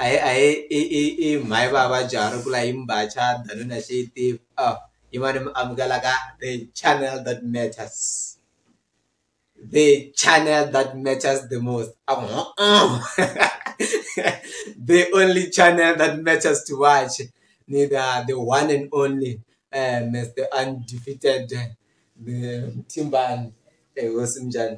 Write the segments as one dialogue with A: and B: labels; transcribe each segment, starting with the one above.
A: a hi a hi i i i mhani va vabya ri ku la hi mbhaca danuna xi tiva a hi mani mi amukela ka the channel that matters the channel that matters the most a ku the only channel that matters to watch ni ta the one and only Mister Undefeated Mthimbani hosi minjhani.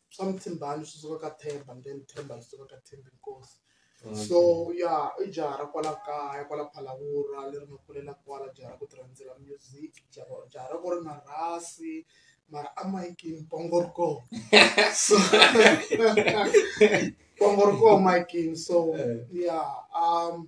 B: swa muthimbani swi suka ka themba and then themba ri suka ka thembi nkosi so ya i jaha ra kwala kaya kwala phalawura leri nga kulela kwala jaha ra ku ti rhandzela music jaha jaha ra ku ri na rhasi mara a mayikini pongo ri kona so pongo ri kona mayikini so ya um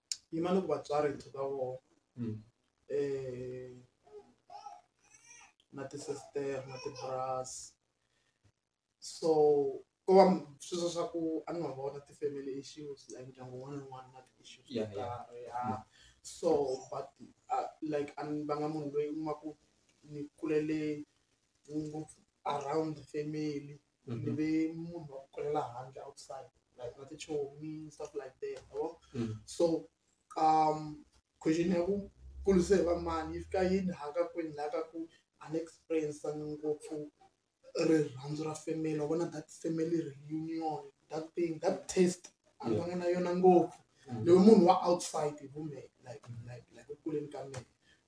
B: yima ni ku vatswari hi tlhela ka vona mm. eh, na tisisitera na tiburasi so ko va sweswo swa ku a ni nga vona ti-family issues like ndyangu wun'wana na wun'wana na ti-issues to karhi ya mm. so but uh, like a ni vanga munhu loyi u ma ku ni kulele ngopfu around the family mm -hmm. ve munhu wa ku kulela handle outside like na tichomi stuff like that yabo mm -hmm. so um question ya ku kulise va mani yi fika yini haka kwini la ka ku an experience ngopfu rirhandzu ra family wa vona that family reunion that thing that taste a ni vanga na yona ngopfu mm. leyi munhu wa outside hi vumeke like like like ekuleni ka mina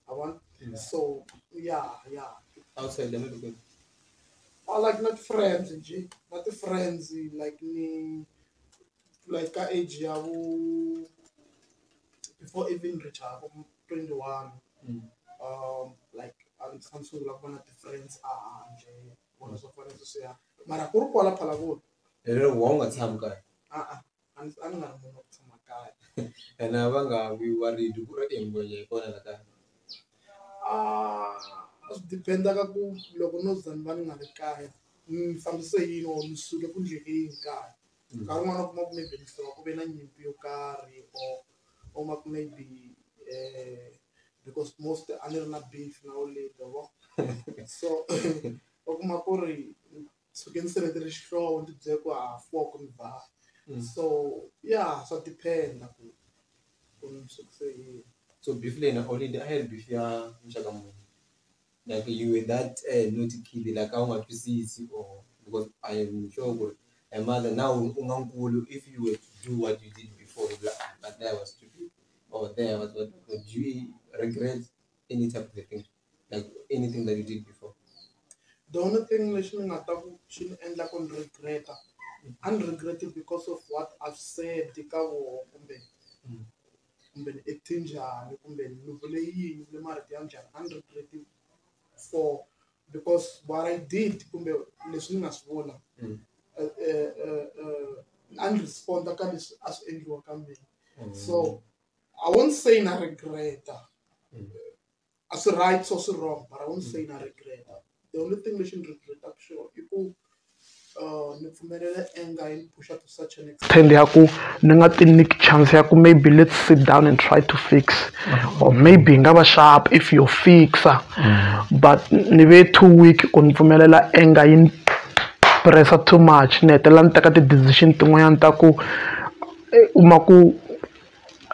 B: I want yeah. so yeah, yeah. Outside
A: the medical. I
B: like not friends, G. Not the friends like me like ka age ya bo before even reach a bo 21 mm. um like I'm some sort of one of the friends are nje bona so fana so ya mara ku ri kwala phala ku ere wa unga
A: tsham ka a a a ndzi a
B: ni nga ri munhu wa ku tshama kaya ene a va nga
A: vi worried ku ri engwenya hi kona la kaya
B: a swi depend-a ka ku loko no za ni va ni nga ri kaya ni fambise hi yini or ni suke ku endleleni kaya nkarhi wun'wana u kuma ku maybe ni suka ku ve na nyimpi yo karhi or u kuma ku maybe because most a ni ri na beef na old lady so u kuma ku ri. suke ni sevetele xihlovo ni tibyele ku ha four ku ni ba Mm. so ya swa dependa ku ku ni sukise yini so beef leyi na
A: holiday a yi ri beef ya muxaka muni like you were that uh, naughty kid like a wu nga twisisi or because i am sure ku ri my mother now u nga nkulu if you were to do what you did before u like, "Ah, but there was stupid or there was what but do you regret any type of the thing like anything that you did before. The only
B: thing lexi ni nga ta ku xi ni endla ku ni regreta a ni regrete because of what I've said ka voho kumbe mm. kumbe ni acte njhani kumbe ni vule yini ni marito ya njhani a ni regrete for because what I did kumbe leswi ni nga swi vula mm. eh, eh, eh, a ni responda ka leswi a swi endliwa ka mina mm. so I won't say na regreta a swi right so swi wrong but i won't say na regret the only thing lexi ni regretaka xona i ku uh, ni pfumelela anger yi ni pusha to such an extent ya ku ni nga ti nyiki chance ya ku maybe let's sit down and try to fix or maybe hi nga va sharp if you fixa mm. but ni ve too weak ku ni pfumelela anger yi ni pressa too much ni hetelela ni teka ti-decision tin'wanyana ta ku eh, u ma ku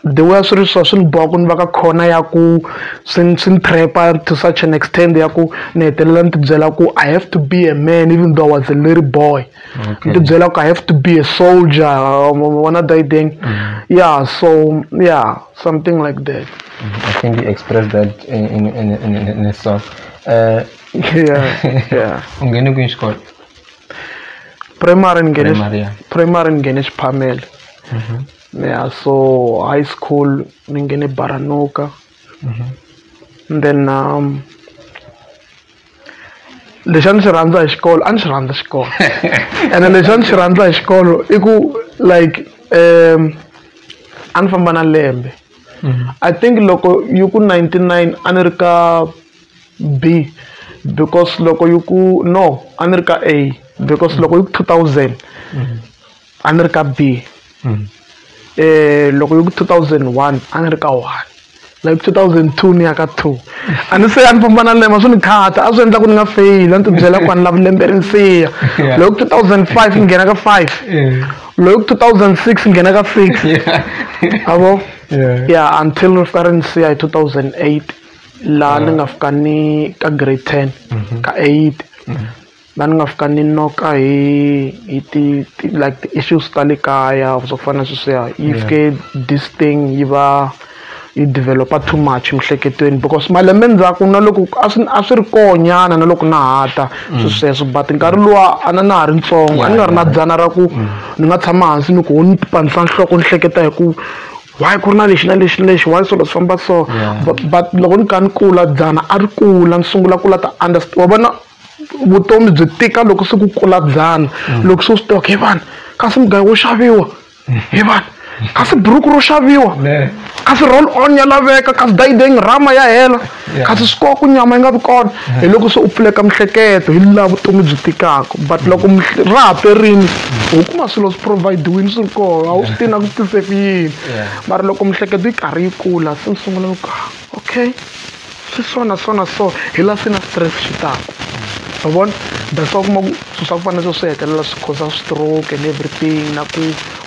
B: the way a swi ri so swi ni boha ku ni va ka khona ya ku swi ni swi ni trap-a to such an extent ya ku ni hetelela ni tibyela ku i have to be a man even though i was a little boy ni tibyela ku i have to be a soldier wona dayideng mm-hmm. yeah so yeah something like that mm-hmm. i think you
A: express that in, in, in, in, in a song uh, yeah yeah
B: ungene kwini xikolo primary ngene primary ngene xiphamele mm-hmm. ni ya so high school ni nghene Baranuka and then lexi a ni xi rhandza hi xikolo a ni xi rhandza xikolo ene lexi a ni xi rhandza hi xikolo i ku like um a ni famba na lembe mm-hmm. i think loko yi ku ninety nine a ni ri ka b because loko yi ku no a ni ri ka a because loko yi ku two thousand mm-hmm. a ni ri ka B loko yi ku two thousand one a ni ri ka one like two thousand two ni ya ka two a ni se a ni famba na lema swi ni khata a swi endla ku ni nga feyili a ni ti byela ku a ni lavi lembe ri ni siya loko two thousand five ni nghena ka five loko two thousand six ni nghena ka six a vo ya until ri fika ri ni siya hi two thousand eight laha ni nga fika ni ka grade ten ka eight la ni nga fika ni noka hi hi ti ti like ti-issues ta le kaya or swo fana na sweswiya yi fike this thing yi va yi develop-a too much emiehleketweni because malembe ndzhaku na loko a swi a swi ri koho nyana na loko na ha ta swi sweswo but nkarhi luwa a na na ha ri ntsongo a ni nga ri na dzana ra ku ni nga tshama hansi ni ku ho ni pandza nhloko ni hleketa hi ku why ku ri na lexi na lexi na lexi why swilo swi famba so but but loko ni kha ni kula dzana a ri kula ni sungula ku la ta wa vona. vutomi byi tika loko se ku kula byana loko se u swi tivaka hi vanhu kasi mugayo wo xaviwa hi vanhu kasi buruku ro xaviwa kasi roll on ya laveka kasi dayideng rama ya hela kasi swi koho ku nyama yi nga vi kona hi loko se u pfuleka miehleketo hi laha vutomi byi tikaka but loko ra ha perini u kuma swilo swi provide-wini swi ri koho a wu swi tivi na ku swi tise ku yini mara loko miehleketo yi karhi yi kula se ni sungula ku ka okay swi so na so na so hi laha se na stress xi taka ma vona that's why u kuma ku swilo swa ku fana na sweswo swi hetelela swi cause stroke and everything na ku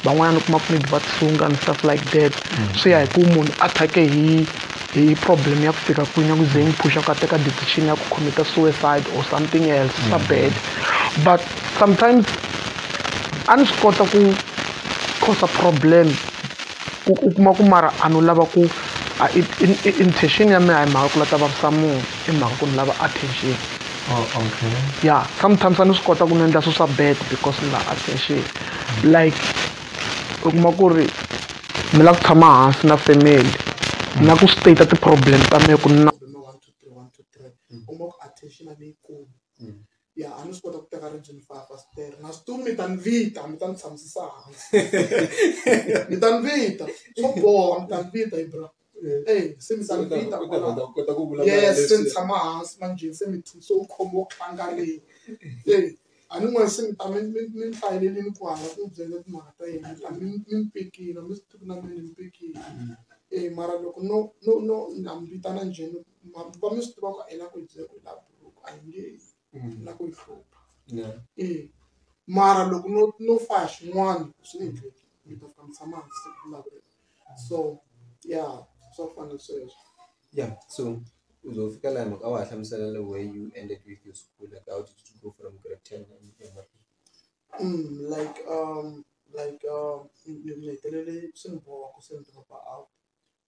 B: van'wanyana u kuma ku maybe va tisunga and stuff like that swi ya hi ku munhu a thyake hi hi problem ya ku fika kwini ya ku ze yi n'wi phusha ku a teka decision ya ku commit-a suicide or something else swa bad but sometimes a ni swi kota ku cause problem u u kuma ku mara a no lava ku a i i intention ya mina a hi mhaka ku la ta vavisa munhu i mhaka ku ni lava attention
A: ya sometimes
B: a ni swi kota ku ni endla swi swa bad because ni la attention like u kuma ku ri mi la ku tshama hansi na family na ku state ti-problem ta me ku na one two three one two three u kuma ku attention a ni yi kumi. ya a ni swi kota ku teka ribye ni faka fasitere na switulu mi ta ni vita mi ta ni tshamusisa hansi mi ta ni vita swo boha mi ta ni vita hi bra ey se mi ta ni vita yes se ni tshama hansi manjheni se mi so u khoma wo khangaleni ey a ni n'wana se mi ta mi mi mi ni hlayelelini ku hala ku mi byele timhaka ta yena mi ta mi mi ni pikile mi swi tivi na mina ni pikile ey mara loko no no no na mi vitana njheni mambu va mi swi tiva ku a yi la ku ni byela ku la buruku a yi nge yi ni la ku ni hlupha Yeah. e mara loko no no fa hi swin'wana swi ni ndleki mi ta fika mi tshama hansi ku vulavula so ya swa fana sweswo Yeah. So
A: uzofika la mhaka a wa ha hlamusela the way you ended with your school like how did you go from grade 10 and and what- Mm, like um like
B: um ni ni hetelele swi ni boha ku se ni dropa out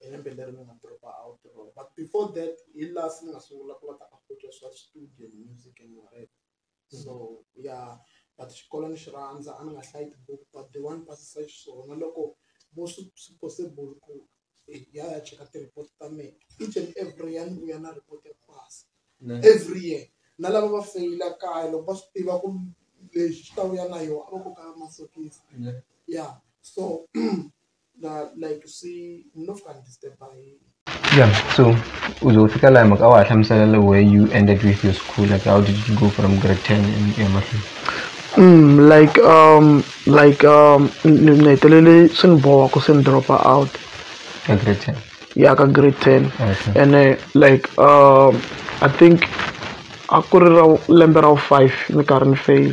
B: hi lembe leri ni nga dropa out rona but before that hi last ni nga sungula ku va ta afford swa studio music and whatever so ya but xikolo ni xi rhandza a ni nga hlayi tibuku but the one pasisa xiswona loko vo swi swi possible ku ya ya cheka ti-report ta mina each and every ya ni vuya na report ya pasi every year na lava va feyila kaya loko va swi tiva ku lexi xi ta vuya na yona a va koka masokisi ya so
A: ya so u ze u fika laha mhaka a wa ha hlamusela le where you ended with your school like how did you go from grade ten emahlweni Mm,
B: like um like um ni ni hetelele swi ni boha ku se ni dropa out ka grade
A: ten ya ka grade
B: ten Okay. ene
A: like
B: um i think a ku ri ra lembe ra wu five ni karhi ni fail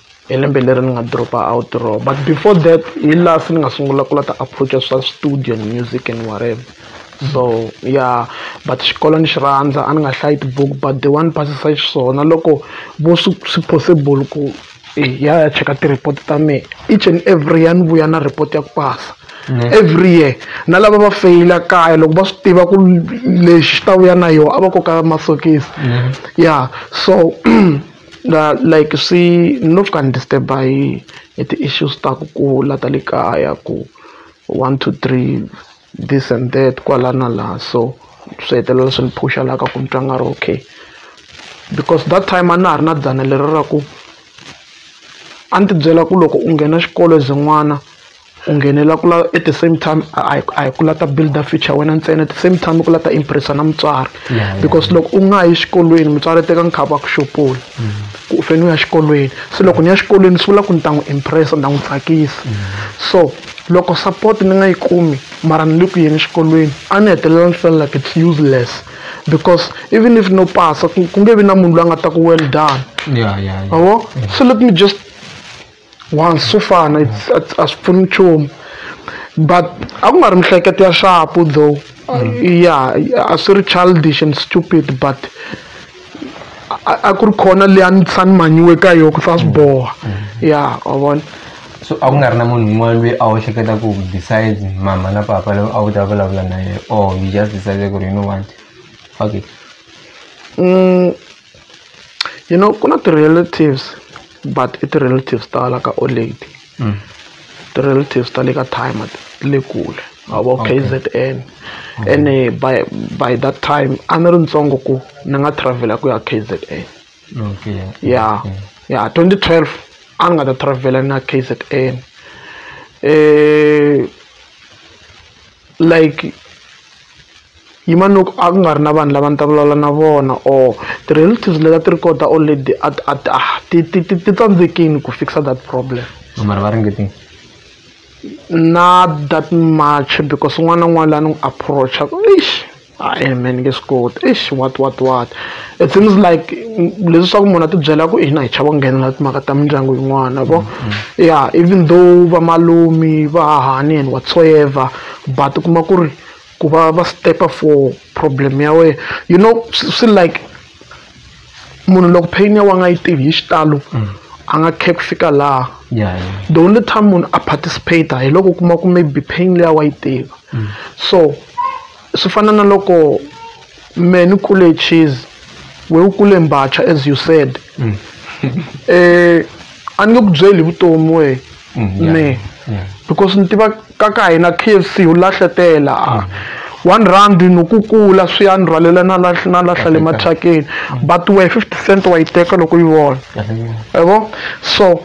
B: hi lembe leri ni nga drop out roho but before that hi laha se ni nga sungula ku la ta approach-a swa studio and music and whatever so ya but xikolo ni xi rhandza a ni nga hlayi tibuku but the one ni pasisa xiswona loko vo swi swi possible ku hi ya hi ya cheka ti-report ta mehe each and every ya ni vuya na report ya ku pasa every year na lava va feyila kaya loko va swi tiva ku lexi xi ta vuya na yona a va koka masokisi ya so La like swi no fika ni disturb-a hi hi ti-issues ta ku kula ta le kaya ku one two three this and that kwala na laha so swi hetelela swi ni phusha la ka ku ni twa nga ri okay because that time a na ha ri na dzana leri ra ku a ni tibyela ku loko u nghena xikolo as e n'wana. u nghenela ku lava at the same time a hi a hi ku lava ta build-a future ya wena ntsena at the same time i ku lava ta impress-a na mutswari because loko u nga yi xikolweni mutswari teka nkarhi wa ku xupula ku u fanele u ya xikolweni se loko ni ya xikolweni swi vula ku ni ta n'wi impress-a ni ta n'wi tsakisa so loko support ni nga yi kumi mara ni le ku yeni exikolweni a ni hetelela ni feel like it's useless because even if no pasa ku ku nge vi na munhu loyi a nga ta ku well done ma vo so let me just one swo fana a swi pfuni nchumu but a ku nga ri mihleketo ya shapu though ya a swi ri childish and stupid but a ku ri khona leyi a ni tshisa ni manyiwe ka yona ku sa swi boha ya wa vona so a ku nga ri
A: na munhu un'wana loyi a wu hleketa ku besides mama na papa loyi a wu ta vulavula na yena or you just decided ku ri you know what fuck it mm.
B: you know ku na ti-relatives but i ti-relatives ta la ka old ti-relatives ta le ka time ti le kule a vo k z n ene by by that time a ni ri ntsongo ku ni nga travel-a ku ya k z n ya ya twenty twelve a ni nga ta travel-a na k z n um like yi va loko a ku nga ri na vanhu lava ni ta vulavula na vona or ti-relatives leti a ti ri kona ta old lady a ti a ti a ti ti ti ti tsandzekile ku fix-a that problem mara va ringetile
A: not
B: that much because un'wana na un'wana la ni n'wi approach-aku eish. I-e me ni nge swi koti eish what what what it seems like leswaku munhu a tibyela ku hina hi chava ku nghenelela timhaka ta mindyangu yin'wana vo mm-hmm. ya even though vamalumi va hahani and whatsoever but u kuma ku ri ku va va stepa for problem ya wena you know swi like munhu loko pain ya wa nga yi tivi hi xitalo mm. a nga khe ku fika laha the only time munhu a participate hi loko u kuma ku maybe pain leya wa yi tiva mm. so swi fana na loko me ni kule cheese we u kule mbacha as you said mm. eh a ni nge ku byeli vutomi we mm, me because ni tiva ka ka hina k f c wu lahletela mm. one rand nokukula swi ya ni rhwalela na na lahla le mathakeni but wehe fifty cent wa yi teka loko yi vona yavo so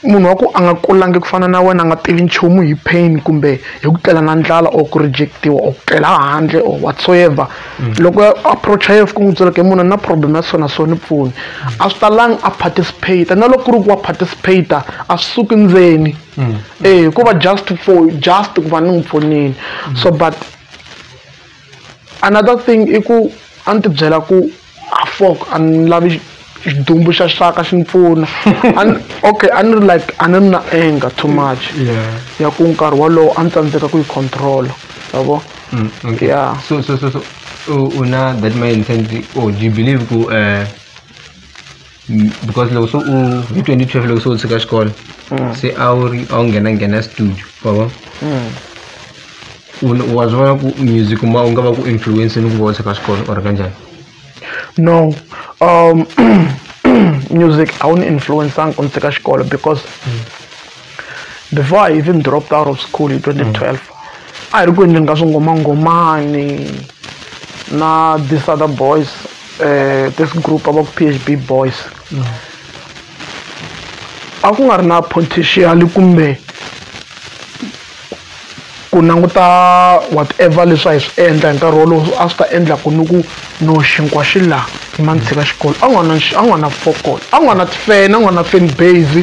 B: munhu wa ku a nga kulangi ku fana na wena a nga tivi nchumu hi pain kumbe hi ku tlela na ndlala or ku rejectiwa or ku tlela handle or whatsoever mm. loko approach ya ku n'wi byela ke munhu na problem ya swona so ni pfuni mm. a swi talangi a participate na loko ku ri ku wa participate a swi suki ndzeni mm. eh hikuva just for just ku va ni n'wi pfunile so but Another thing i ku a ni tibyela ku a fok a ni lavi xidumbu xa xaka xi ni pfuna okay a ni ri like a ni ri na anger too much ya ku nkarhi wolowo a ni tsandzeka ku yi controla ya vo mm, ya so so so
A: so u na that mindset oh do you believe ku um because loko so u hi 2012 loko so u tshika xikolo mm. se a wu ri a wu nghena nghena studio baba mm. wa swi vona ku music ma u nga va ku influence ni ku va u tshika xikolo or kanjhani no
B: um music a wu ni influenceanga ku ni tshika xikolo because mm. before i even dropped out of school hi 2012 a hi ri ku endleni ka swingomangomani na this other boys uh, this group va ku phb boys a ku nga ri na potential kumbe ku languta whatever leswi a hi swi endla hi nkarhi wolowo a swi ta endla ku ni ku no xinkwa xi laha hi ma ni tshika xikolo a nga na a nga na fokolo a nga na tifene a nga na fan base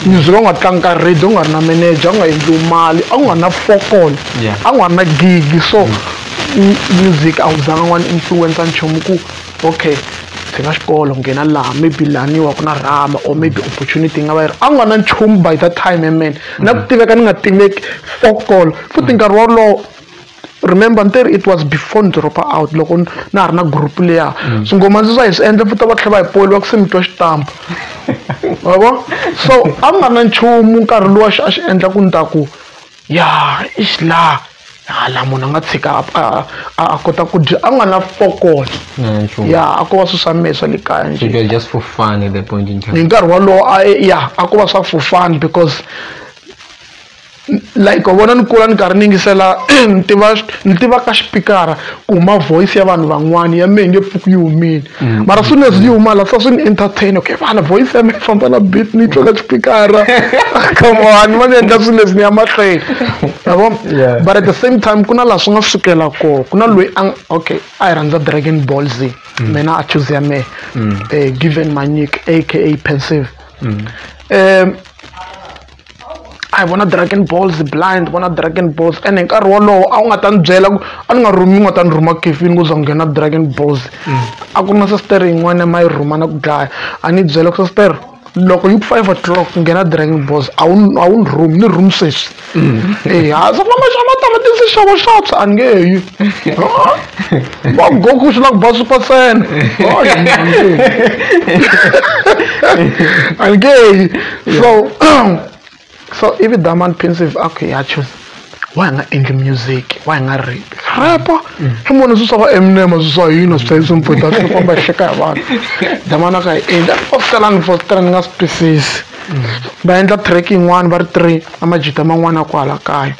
B: music a nga tlangi ka radio a nga ri na manager a nga endliwi mali a nga na fokolo a nga na gigi so music a wu zanga n'wana influencer nchumu ku okay ndzi nga xikolo nghena laha maybe laniwa ku na rhama or maybe opportunity yi nga va yi ri a nga na nchumu by that time amen na ku tiveka ni nga tiveki fokol futhi nkarhi wolowo remember ni te ri it was before ni dropa out loko na ha ri na group leya mm. so ngoma ndzi swa hi swi endla futa va tlhela va hi poli va ku se mi twa xitampa wa vo so a nga na nchumu nkarhi lowa xi a xi endla ku ni ta ku Ya eish laha hala munhu a nga tshika a a a kota ku dya a nga na fokolo ya a ko va swilo swa mehe swa le kaya njhe
A: hi nkarhi wolowo a
B: ya a ko va swa for fun because like wa vona ni kula ni karhi ni yingisela ni tiva ni tivaka xipikara ku huma voice ya vanhu van'wana ya mehe nge pfuki yi humile. mm. mara soon as you mala sa swi ni entertain okay vana voice ya mina famba na beat ni tloka xipikara come on ma ni endla swilo leswi ni ya mahlweni yabo but at the same time ku na laha swi nga sukela kona ku na loyi a okay a hi rhandza dragon ball z mm. mina a choose ya mehe mm. eh, given manyik aka pensive um a hi vona dragon balls blind vona dragon balls and hi nkarhi wolowo a wu nga ta ni byela ku a ni nga rhumi u nga ta ni rhuma kefini ku za nghena dragon balls mm. a ku ri na sastere yin'wana ma yi rhuma na ku dlaya a ni byela ku sastere loko yi ku five o'clock nghena dragon balls a wu a wu ni rhumi ni rhumi sweswi mm. eya se famba xa matamatisi xavo xaps a ni nge yi Ba Goku swi la ku ba super saiyan a ni nge yi so so ivi diamond pensive a ku ya choose why nga endli music why nga rap rap i munhu swi swa va eminem swi swa hina swi hlayisa mpfhweta swi komba xeka hi vanhu damana ka hi endla fosterani fostera ni nga swi twisisi va endla track yin'wana va ri three na majita man'wana kwala kaya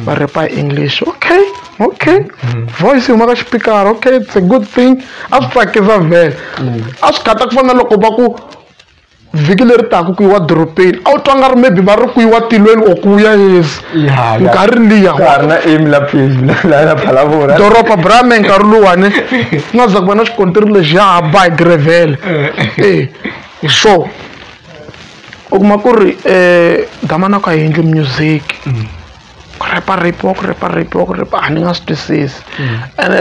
B: va repa hi english okay okay mm. voice yi huma ka xipikara okay it's a good thing a swi tsakisa vhele mm. a swi gata ku fana loko va ku vhiki leri taka ku yiwa dorobeni a wu twa nga ri maybe va ri ku yiwa tilweni or ku ya yesi nkarhi liya doroba brame nkarhi luwani ku nga za ku va na xikontiri lexi ya haba hi grevele e hi swo u kuma ku ri um damanaka hi yendli music mm. ku rhepa rhepiwa ku rhepa rhepiwa ku rhepa a ni nga swi twisisi mm. ene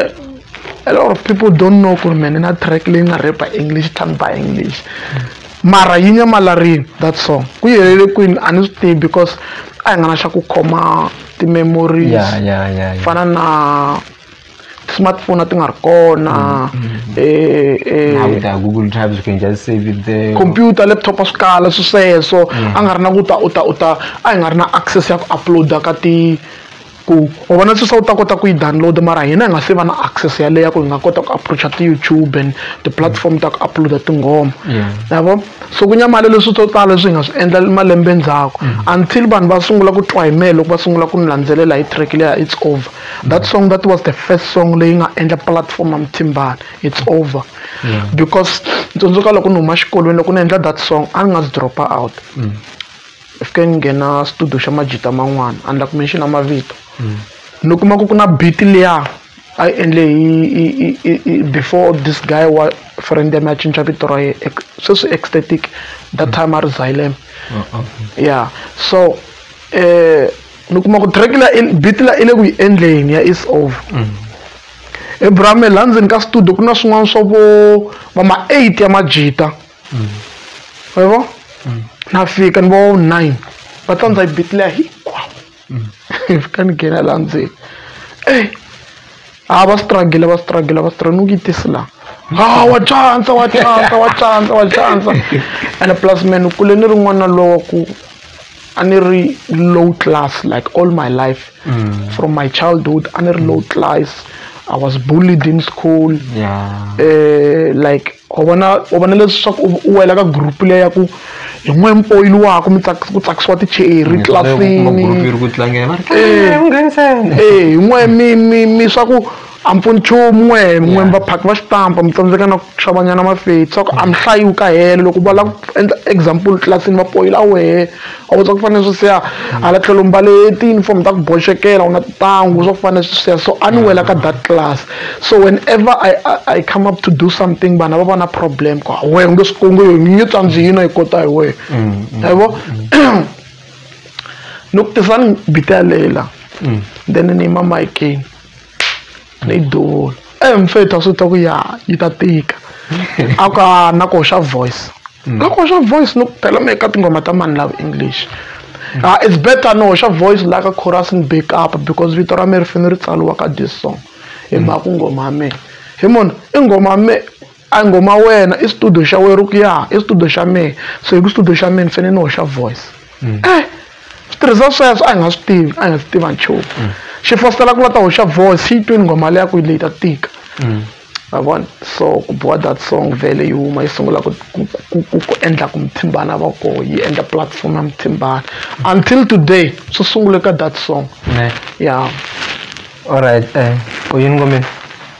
B: a lot of people don't know ku ri me ni na track leyi nga rhepa english tan by english mm. mara yi nyamalarini that song ku yelele kwini a ni swi tivi because a hi nga na xa ku khoma ti-memories fana na ti-smartphone a ti nga ri
A: kona computer laptop a swi
B: kala swi sweswo a nga ri na ku ta u ta u ta a hi nga ri na access ya ku upload-a ka ti ku u vona sweswi a wu ta kota ku yi download mara hina hi nga se va na access yaleyo ya ku hi nga kota ku approach-a ti-YouTube and ti-platform ta ku upload-a tinghoma ma vo so ku nyamala leswi swo tala leswi hi nga swi endla malembe ndzhaku until vanhu va sungula ku twa hi mehe loko va sungula ku ni landzelela hi track leya it's over. that song that was the first song leyi nga endla platform ya muthimbani it's over yeah. because ni tsundzuka loko ni huma xikolweni loko ni endla that song a ni nga swi dropa out mm. fike ni nghena studio xa majita man'wana a ni la ku menxina mavito mm. ni kuma ku ku na beat liya a yi endle hi before this guy wa friend ya mi a cinca vito ra ye sweswi ecstatic that mm. time a ri zylem uh, uh, uh. yeah so um ni kuma ku track la beat la i le ku yi endleni ya is over abraham mm. la ndzeni ka studio ku na swin'wana swa vo va ma eight ya majita mm. wa yi vo mm. na fika ni vo nine va tlandza yi beat leya hinkwawo fika ni nghena la ndzeni e a va struggle va struggle va struggle ni ku yi tisi laha ha wa tsandza wa tsandza wa tsandza wa tsandza and plus me ni kule ni ri n'wana lowa ku a ni ri low class like all my life mm. from my childhood a ni ri low class i was
C: bullied in school yeah. uh, like u vona u vona leswaku u wela ka group leyi ya ku hi n'we mpoyili wakho mi ku tsakisiwa ticheri tlilasinihi n'we mi mi mi swa ku a mpfuni nchumu n'we n'we vaphaki va xitampa mi tsandzeka na ku xavanyana mafeti swa ku a mi hlayiwi ka helo loko va lava ku endla example tlilasini va poyila wehe a wu twa ku fanele swi siya hala tlhelo mbale ti-uniform ta ku boxekela u na tintangu swa ku fanele swi siya so a ni wela ka that class so whenever I, I, I come up to do something vanhu va va na problem ku we u nge swi kungu yo nyi tsanzi yino yi kota hi wehe yavo ni ku tisani bita ya leyi la then ni yima mayikeni ni duvula e eh, mfethu a swi ta ku ya yi ta tika a ku a na ku hoxa voice mm. na ku hoxa voice ni ku phela mi eka tinghoma ta mani lava english mm. ah it's better ni hoxa voice la ka chorus ni back up because vito ra me ri fanele ri tsaliwa ka this song hi mm. mhaka ku nghoma ya mina hi mona i nghoma ya me A hi nghoma wena i studio xa wena ku ya i studio xa mehe so hi ku studio xa mehe ni fanele ni hoxa voice mm. eh switirhisa sweswo a hi nga swi tivi a hi nga swi tiva nchumu mm. xi fositela ku la ta hoxa voice xi yi twini nghoma leya ku yi leyi ta tika mm. ma vona so ku boha that song vele yi huma yi sungula ku ku endla ku muthimbana va ko yi endla platform ya muthimbana until today swi sungule ka that song ya alright
A: um eh, u yini ngomeni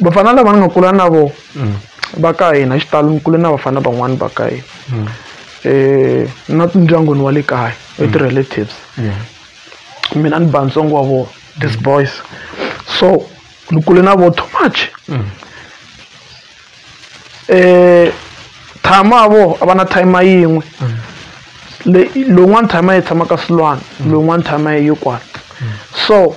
C: vafana lava ni nga kula na vona mm. va ka hina xitalo ni kule na vafana van'wani va ka hina um na ndyangwini wa le kaya mm. with relatives mina ni ba ntsongo wa vona these boys so ni kule na vona too much um tshama a vona a va na time yin'we lowun'wani time yi tshama ka silwana lowun'wani time yi yi kwana so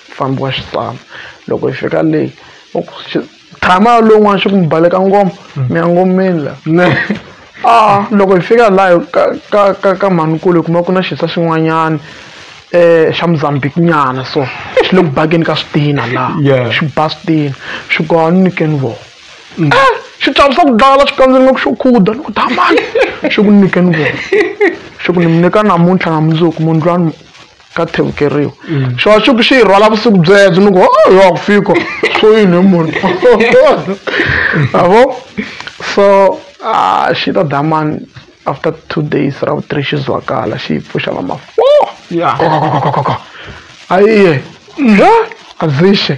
C: Mufambi wa xitalo loko hi fika le tshama lowun'wana xi ku mi baleka ngoma hmm. mi ya ngomeni la a ah, loko hi fika laha ka ka ka ka mhanikulu hi kuma ku na xisa xin'wanyana eh xa Mozambique nyana so xi le ku bakeni ka switina laha xi ba switina xi ku a ni nyikeni vona mm. eh xi chavisa ku dlala xi kandzeni nga ku xo khuda ni ku damani xi ku nyikeni vona xi ku ni mi nyika namuntlha na mundzuku mundlwani ka thevukeriwa xona xi ku xi yi rhwala vusiku byebyo ni ku yo wa ku fika swo yini hi munhu avo so ah, xi ta damani after two days ra vu-three xi zwakala xi yi pfuxa va ma four ayiye azixe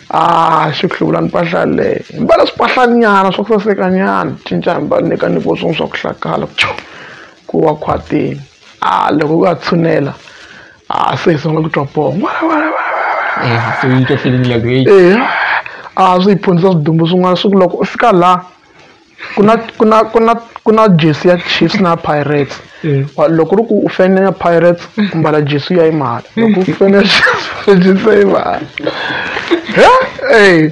C: a ah, xi ku hluvula mpahla leyi hi mbala swipahlanyana swa ku sasekanyana cinca hi mbala nyika ni voswin'wi swa ku hlakala ku wa khwatini a ah, loko u va tshunela a ah, se hi sungula ku twa poho eh, se yi twa feeling like hey eh, a ah, swi hi phundzisa swidumbu swin'wana swi ku loko u fika la ku na ku na ku na ku na jersey ya Chiefs na Pirates eh. loko ri ku u fanele ya Pirates u mbala jersey ya imali loko u fanele jersey ya imali eh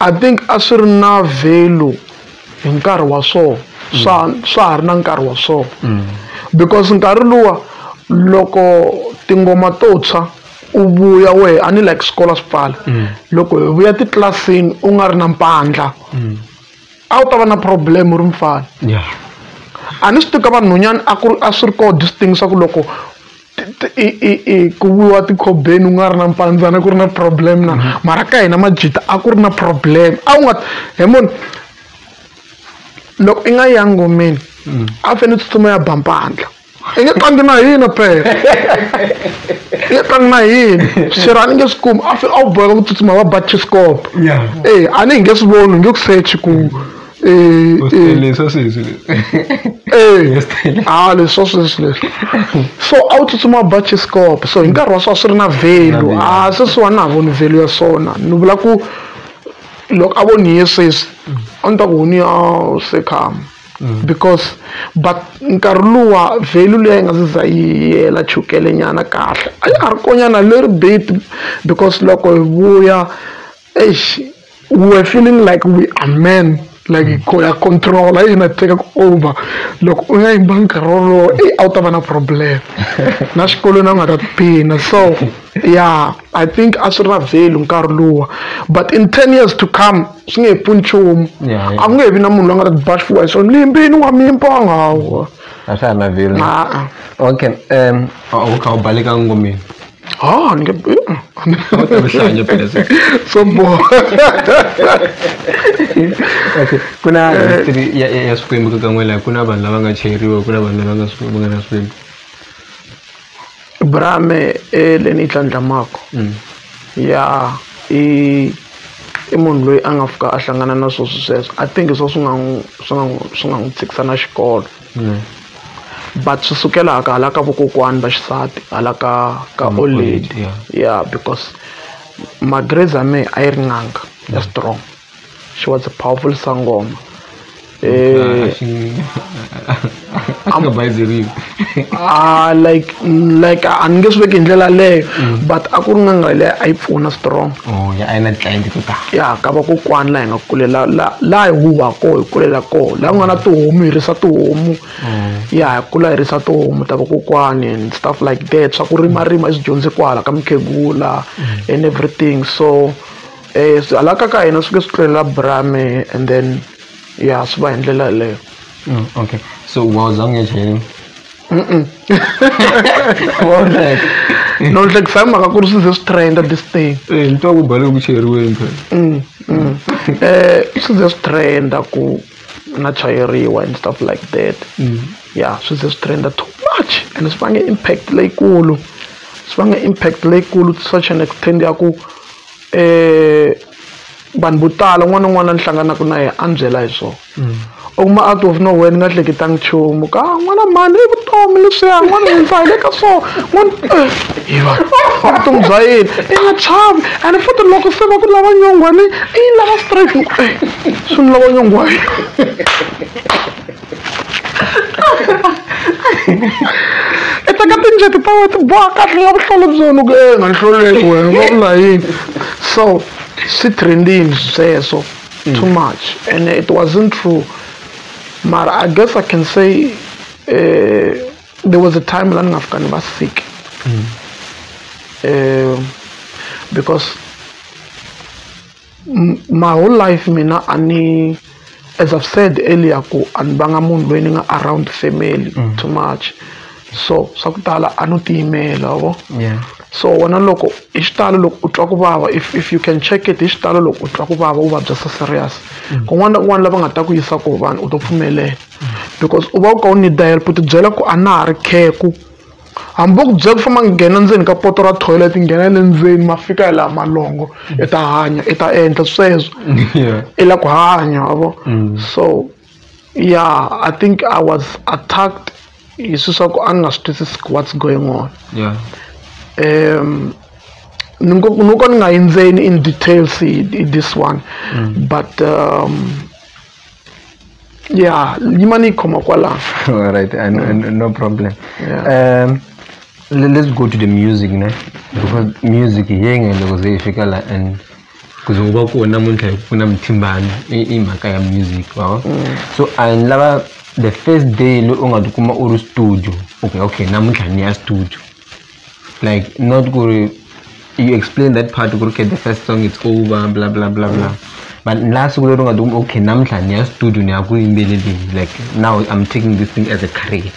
A: I
C: think a swi ri na value hi nkarhi wa swona swa swa ha ri na nkarhi wa swona because nkarhi luwa loko tingoma to tshwa u vuya wehe a ni like swikolo swi pfala loko hi vuya titlilasini u nga ri na mpandla a wu ta va na problem u ri mfana a ni swi tivi ka vanhwanyana a ku ri a swi ri koho this thing swa ku loko i i i ku vuriwa tikhobeni u nga ri na mpandzana ku ri na problem na mm-hmm. mara ka hina majita a ku ri na problem a wu nga he moni loko i nga ya ngomeni mm. a fane tsutsuma ya bampandla i nge tlangi na hina phela i nge tlangi na hina xera a ni nge swi kumi a fane a wu boheka ku tsutsuma va ba chiscope e a ni hi nge swi voni hi nge ku sechi ku Eh, U eh. tele swa sweswi leswi. Eh, Yes, tele. ah leswi swa sweswi leswi so a wu tsutsuma bachiskop so hi nkarhi wa swona swi ri na value a sweswiwani na ha voni value ya swona ni vula ku loko a vo ni ye sweswi a ni ta ku honi ya sekhama because but nkarhi luwa value leyi a yi nga se za yi yela chukele nyana kahle a ya ha ri konyana leri bit because loko hi vuya Eish, we were feeling like we are men like hi ya controla yi na teka ku over loko u nga yimba nkarhi wolowo i a wu ta va na problem na xikolweni a nga ta tiphina so yeah i think a swi ra value nkarhi luwa but in ten years to come swi nge he pfuni nchumu a ku nge he vi na munhu loyi a nga ta tiba xifuwa hi swona limbini wa mimpanga hawa a swa ha na value
D: okay um u kha u baleka ngomeni Oh, ni nge- Uhlanya
C: phela sisi. so bored. Okay.
D: ku na history ya, ya, ya swikwembu ka kan'we laha ku na vanhu lava nga cheriwa ku na vanhu lava nga swi- va nga na swikwembu
C: Brame e le ni tlhandlamako. Mm. ya i i munhu loyi a nga fika a hlangana na sweswo sweswo i think hi swo swi nga n'wi swi nga n'wi swi nga n'wi tshikisa na xikolo but swi sukela hala ka hala ka vokokwani va xisati hala ka ka old lady ya because magreza me a yi ri n'anga ya strong she was a powerful sangoma um a like like a ni nge swi veki hi ndlela leyo mm. but a ku ri n'anga leyi a yi pfuna strong oh, a yi na titlilayenti
D: to tala ya ka vakokwana
C: laha hi nga kulela laha hi huha koho hi kulela koho laha ku nga na tihomu hi risa tihomu mm. ya hi kula hi risa tihomu ta vakokwani and stuff like that swa ku rimarima i swi dyondze kwala ka mukhegula mm. and everything so um hala ka ka hina swi ke swi tlulela brame and then ya swi va hi ndlela yeleyo okay
D: so wa za u nge chayeriwi
C: no hlekisa hi mhaka ku ri swi ze swi trenda this thing eh, ni twa ku bale ku
D: cheriweni phela um swi ze swi trenda
C: ku na chayeriwa and stuff like that mm. ya swi ze swi trenda too much and swi vange impact leyikulu swi vange impact leyikulu to such an extend ya ku um vanhu vo tala un'wana na un'wana a ni hlanganaka na yena a ni byela hi swona U kuma out of no where ni nga hleketanga nchumu ka n'wana mhani i vutomi leswiya n'wana hi ndza hi le ka so n'wana hi va vutomi bya yini i nga chavi and futhi loko se va ku lava nyongwani i yi lava straight swi ni lava nyongwani i teka tinjeti ta wena ti boha kahle la vuhlolo byona ku e nga ni hloleli wena va vula yini so swi trendini sweswo too mm. much and it wasn't true mara i guess i can say uh, there was a time la ni nga fika ni va sick mm. uh, because my whole life mina a ni as i've said earlier ku a ni vanga munhu loyi ni nga around family mm. too much so swa ku tala a no tiyimela vo so wena loko hi xitalo loko u twa ku vava if if you can check it hi xitalo loko u twa ku vava u vabya so serious mm. kun'wana na kun'wana lava nga ta ku yisa koho vanhu u to pfumelela mm. because u va u ka u need help u tibyela ku a na ha ri kheku hambi va ku byela ku famba nghena ndzeni ka poto ra toilet nghena le ndzeni ma fika hi laha malongo i ta hanya i ta endla sweswo i la ku hanya wavo mm. so Yeah, I think I was attacked hi swilo swa ku a ni nga swi twisisi what's going on yeah. um ni ngo ni ko ni nga yindzeni in details hi this one mm. but um yeah yima ni yi khoma kwalano all right and, mm.
D: and no problem yeah. um let's go to the music ne because music yenge loko ze yi fika la and ku ze wu va kona namuntlha hi ku pfuna muthimbani i i mhaka ya music wa vo so a ni lava the first day leyi u nga tikuma u ri studio okay okay namuntlha ni ya studio like not ku ri you explain that part ku ri okay the first song it's over bla bla bla bla but la siku leri u nga tikuma okay namuntlha ni ya studio ni ya ku yimbeleleni like now I'm taking this thing as a career.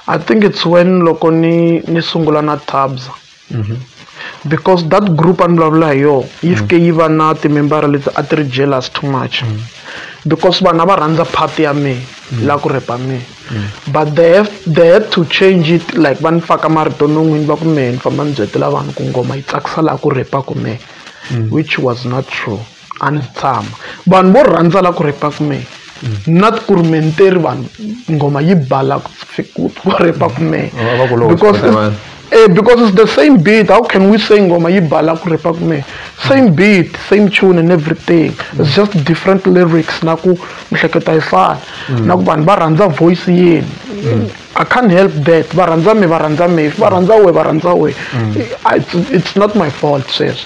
C: I think it's when loko ni ni sungula na Thabza mm-hmm. because that group a ni vulavula hi yona yi fike mm. yi va na timembara leti a ti ri jealous too much mm. because vanhu a va rhandza part ya mehe mm. la ku repa mehe but they have, they had to change it like va ni faka marito non'wini va ku mehe ni famba ni byetela vanhu ku ngoma yi tsakisa laha ku repaka mehe which was not true a ni tshama vanhu vo rhandza la ku repa kume na ku ri menteri vanhu nghoma yi bala ku repa kume because Eh, because it's the same beat. How can we say Ngoma Yibala Kurepakme? Same beat, same tune and everything. It's just different lyrics. Naku mhleketa ifana. Mm. Naku vanhu va rhandza voice yini. Mm. I can't help that. Va rhandza me, va rhandza me. If va rhandza we, va rhandza we. Mm. It's, it's not my fault, sis.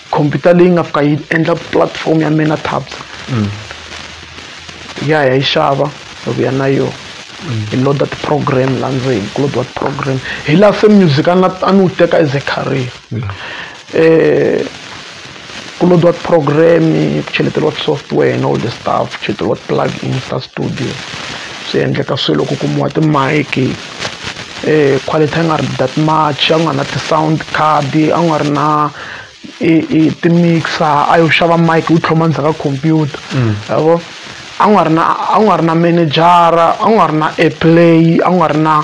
C: khompyuta leyi nga fika yi endla platform ya mina tabs ya hi ya yi xava hi vuya na yona hi load-a ti-program laha ndzeni ku load-iwa ti-program hi laha se music a nga a ni wu teka as a career um ku load-iwa ti-program-i ku cheleteriwa ti-software and all the stuff ku cheleteriwa ti-plug-ins ta studio swi endleka swilo ku kumiwa ti-mic-i. quality a yi nga ri that much a ku nga ri na ti-sound card a ku nga ri na i i ti-mixer a yo xava mic u tlhoma ndzhaku ka khompyuta ma vo a ku nga ri na a ku nga ri na menejara a ku nga ri na airplay a ku nga ri na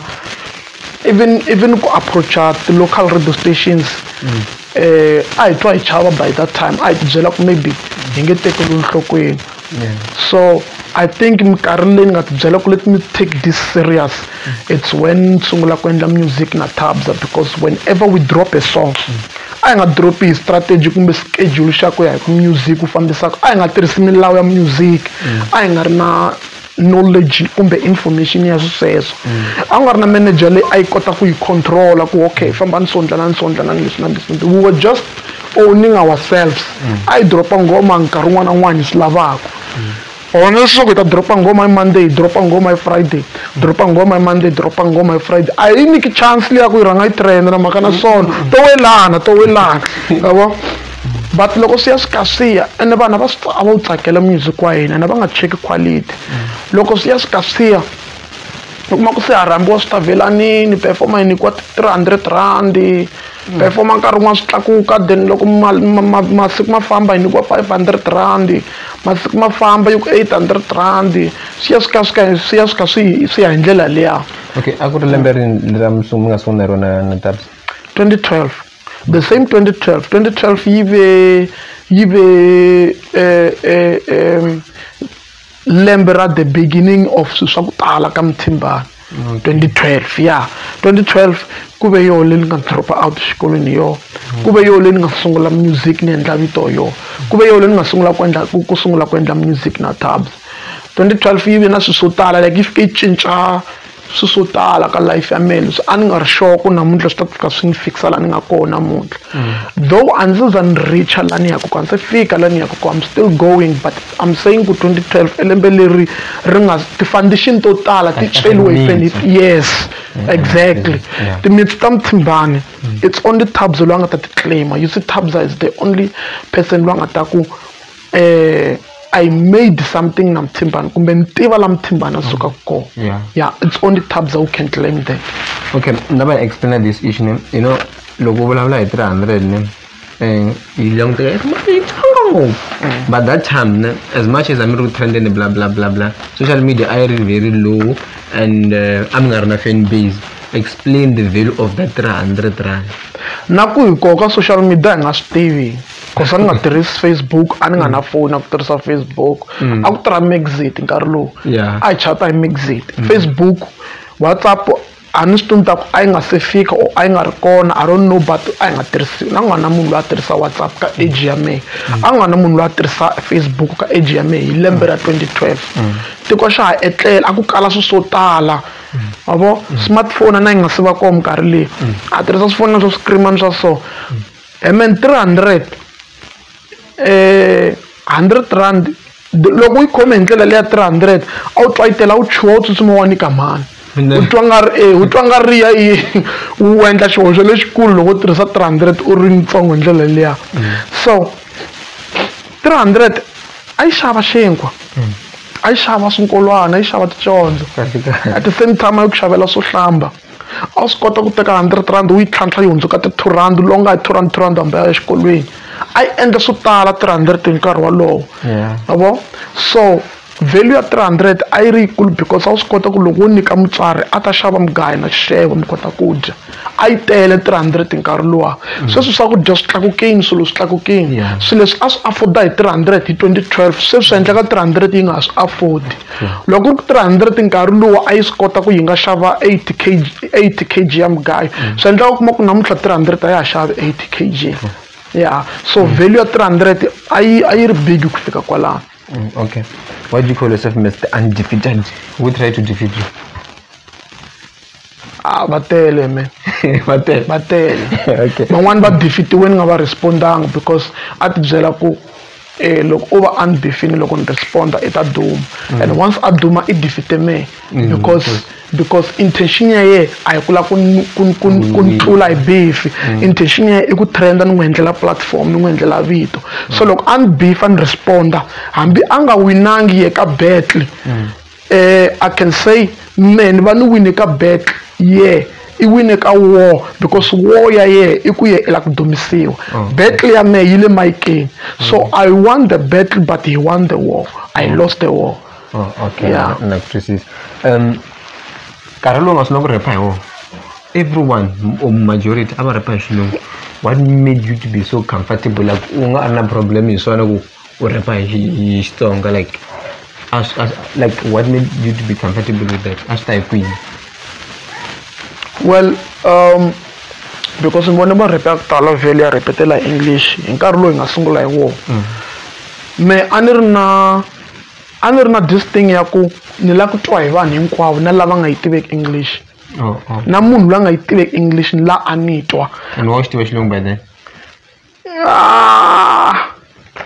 C: even even ku approach-a ti-local radio stations. um a hi twa hi chava by that time a hi ti byela ku maybe hi nge tekeriwi nhlokweni so i think minkarhi leyi ni nga ti byela ku let me take this serious it's when ni sungula ku endla music na tabza because whenever we drop a song a hi nga dropi hi strategy kumbe schedule xa ku ya hi ku music wu fambisaka a hi nga tirhisi milawu ya music a hi nga ri na knowledge kumbe information ya swisweswo a ku nga ri na manager leyi a yi kota ku yi controla ku okay fambani so ndlanani so ndlanani leswi na leswi we were just owning ourselves a yi dropa nghoma nkarhi un'wana na un'wana hi swi lavaka or na leswaku hi ta dropa nghoma hi monday hi dropa nghoma hi friday dropa nghoma hi monday dropa nghoma hi friday a yi nyiki chance leyi ya ku yi rhanga yi trenda na mhaka na sono to welana to welana yavo but loko swi ya swi ka swi ya ene vanhu va swi a va wu tsakela music wa hina ene va nga cheki quality loko swi ya swi ka swi ya u kuma ku se ha rhambiwa swi ta velanini performa yi nyikiwa three hundred rand performa nkarhi wun'wana swi tlakuka then loko masiku ma famba yi nyikiwa five hundred rand masiku ma famba yi ku eight hundred rand swi ya swi ka swi ka swi ya swi ka swi swi ya hi ndlela liya okay a ku ri lembe
D: rini lera mi nga sungula hi rona na twenty twelve
C: the same 2012 2012 yi be yi be eh, eh, eh, lembe ra the beginning of swilo swa ku tala ka muthimbani 2012 ya 2012 ku ve yoho leyi ni nga dropa out xikolweni yoho ku ve yoho leyi ni nga sungula music ni endla vito yoho ku ve yoho leyi ni nga sungula ku endla ku sungula ku endla music na tabs 2012 yi ve na swilo swo tala like yi fike yi cinca swi swo tala ka life ya mina swi a ni nga ri sure ku namuntlha swi ta fika swi ni fikisa laha ni nga kona namuntlha mm. though a ndzi za ni richa laha ni yaka kona se fika laha ni yaka kona i'm still going but i'm saying ku 2012 elembe leri ri nga ti-foundation to tala ti celiwe hi fenit yes mm. exactly mm. timitsi ta muthimbani it's only tabs loyi a nga ta ti claima you see tabs is the only person loyi a nga ta ku eh, I made something na Mthimbana kumbe ni tiva la Mthimbana a sukaka kona yeah. yeah it's only Thabza who can claim that okay nga va
D: explain this issue ne you know loko u vulavula hi 300 ne um yi languteka yi tsonga ngopfu mm. but that time ne as much as amiri ku trend ne bla bla bla bla social media a yi ri very low and uh, a mi nga ri na fan base explain the value of that 300 rand na ku hi
C: koka social media hi nga swi tivi Ku swa ni nga tirhisi Facebook a ni nga na foni ya ku tirhisa Facebook a ku tirha Mxit nkarhi lowu a hi chat-a hi Mxit Facebook WhatsApp a ni swi tivi ni ta ku a yi nga se fika or a yi nga ri kona I don't know but a yi nga tirhisiwi na ku nga na munhu loyi a tirhisa WhatsApp ka age ya mehe a ku nga na munhu loyi a tirhisa Facebook ka age ya mehe hi lembe ra twenty twelve tiko xa ha etlela a ku kala swilo swo tala ma vo smartphone a yi nga se va kona minkarhi leyi a tirhisa swifonela swa swikirimani swa so and then 300 eh 100 rand loko yi khome hi ndlela leya 300 a wu twayitela wu chuha wu tsutsuma wa ni kamhani u twa nga ri e u twa nga ri ya yi u endla xihoxo lexikulu loko u tirhisa 300 u ri ntsongo hi ndlela leya so 300 a yi xava xinkwa a yi xava swinkolwana a yi xava ticondzo at the same time a yi ku xavela swo hlamba a wu swi kota ku teka hundred rand wu yi tlhantlha yi hundzuka ti-two rand lowu nga hi two rand two rand hambi a ya exikolweni a yi endla swo tala three hundred hi nkarhi wolowo ma vo so value ya three hundred a yi ri yikulu because a wu swi kota ku loko wo nyika mutswari a ta xava mugayo na xixevo mi kota ku dya a yi tele three hundred hi nkarhi luwa mm. sweswi swakudya swi tlakukini swilo swi tlakukini swilo leswi a swi afforda hi three hundred hi twenty twelve sweswi swi endleka three hundred yi nga ha swi afford loko ku ri 300 nkarhi lowu a yi swi kota ku yi nga xava 8 kg 8 kg ya mugayo mm. swi endlaka kuma ku namuntlha 300 a ya ha xavi 8 kg mm. ya so mm. value ya 300 a yi a yi ri big ku fika kwalano okay
D: why do you call yourself mr undefeated we try to defeat you a
C: va tele me va tele va tele okay
D: van'wani va bifitiwe
C: ni nga va respondanga because a ti byela ku eh loko u va unbifini loko ni responda i ta duma mm. and once a duma i defite me mm, because because intention ya ye a hi ku la ku ni tlula hi bifi mm. intention ya ye i ku trenda ni n'wi endlela platform ni n'wi endlela vito so loko a ni bifa ni responda hambi a nga winangi ye ka battle Eh, I can say men va ni wine ka back yeah i wine ka war because war ya yena i ku ye i la ku dumisiwa oh. battle ya me yi le mayikeni so mm. i won the battle but he won the war i mm. lost the war oh, okay yeah.
D: na ku twisisa um nkarhi lowu nga swi na ku repa hi wona everyone or majority a va repa hi xilungu what made you to be so comfortable like u nga a ri na problem hi swona ku ku rhapa hi hi Xitsonga like a swi a swi like what made you to be comfortable with that a swi ta hi kwini
C: well um because ni vone marhepe ya ku tala vhele ya rhepetela hi english hi nkarhi lowu hi nga sungula hi wona mm. me a ni ri na a ni ri na this thing ya ku ni lava ku twa hi vanhu hinkwavo na lava nga yi tiveki english oh, oh. na munhu loyi a nga yi tiveki english ni la a ni twa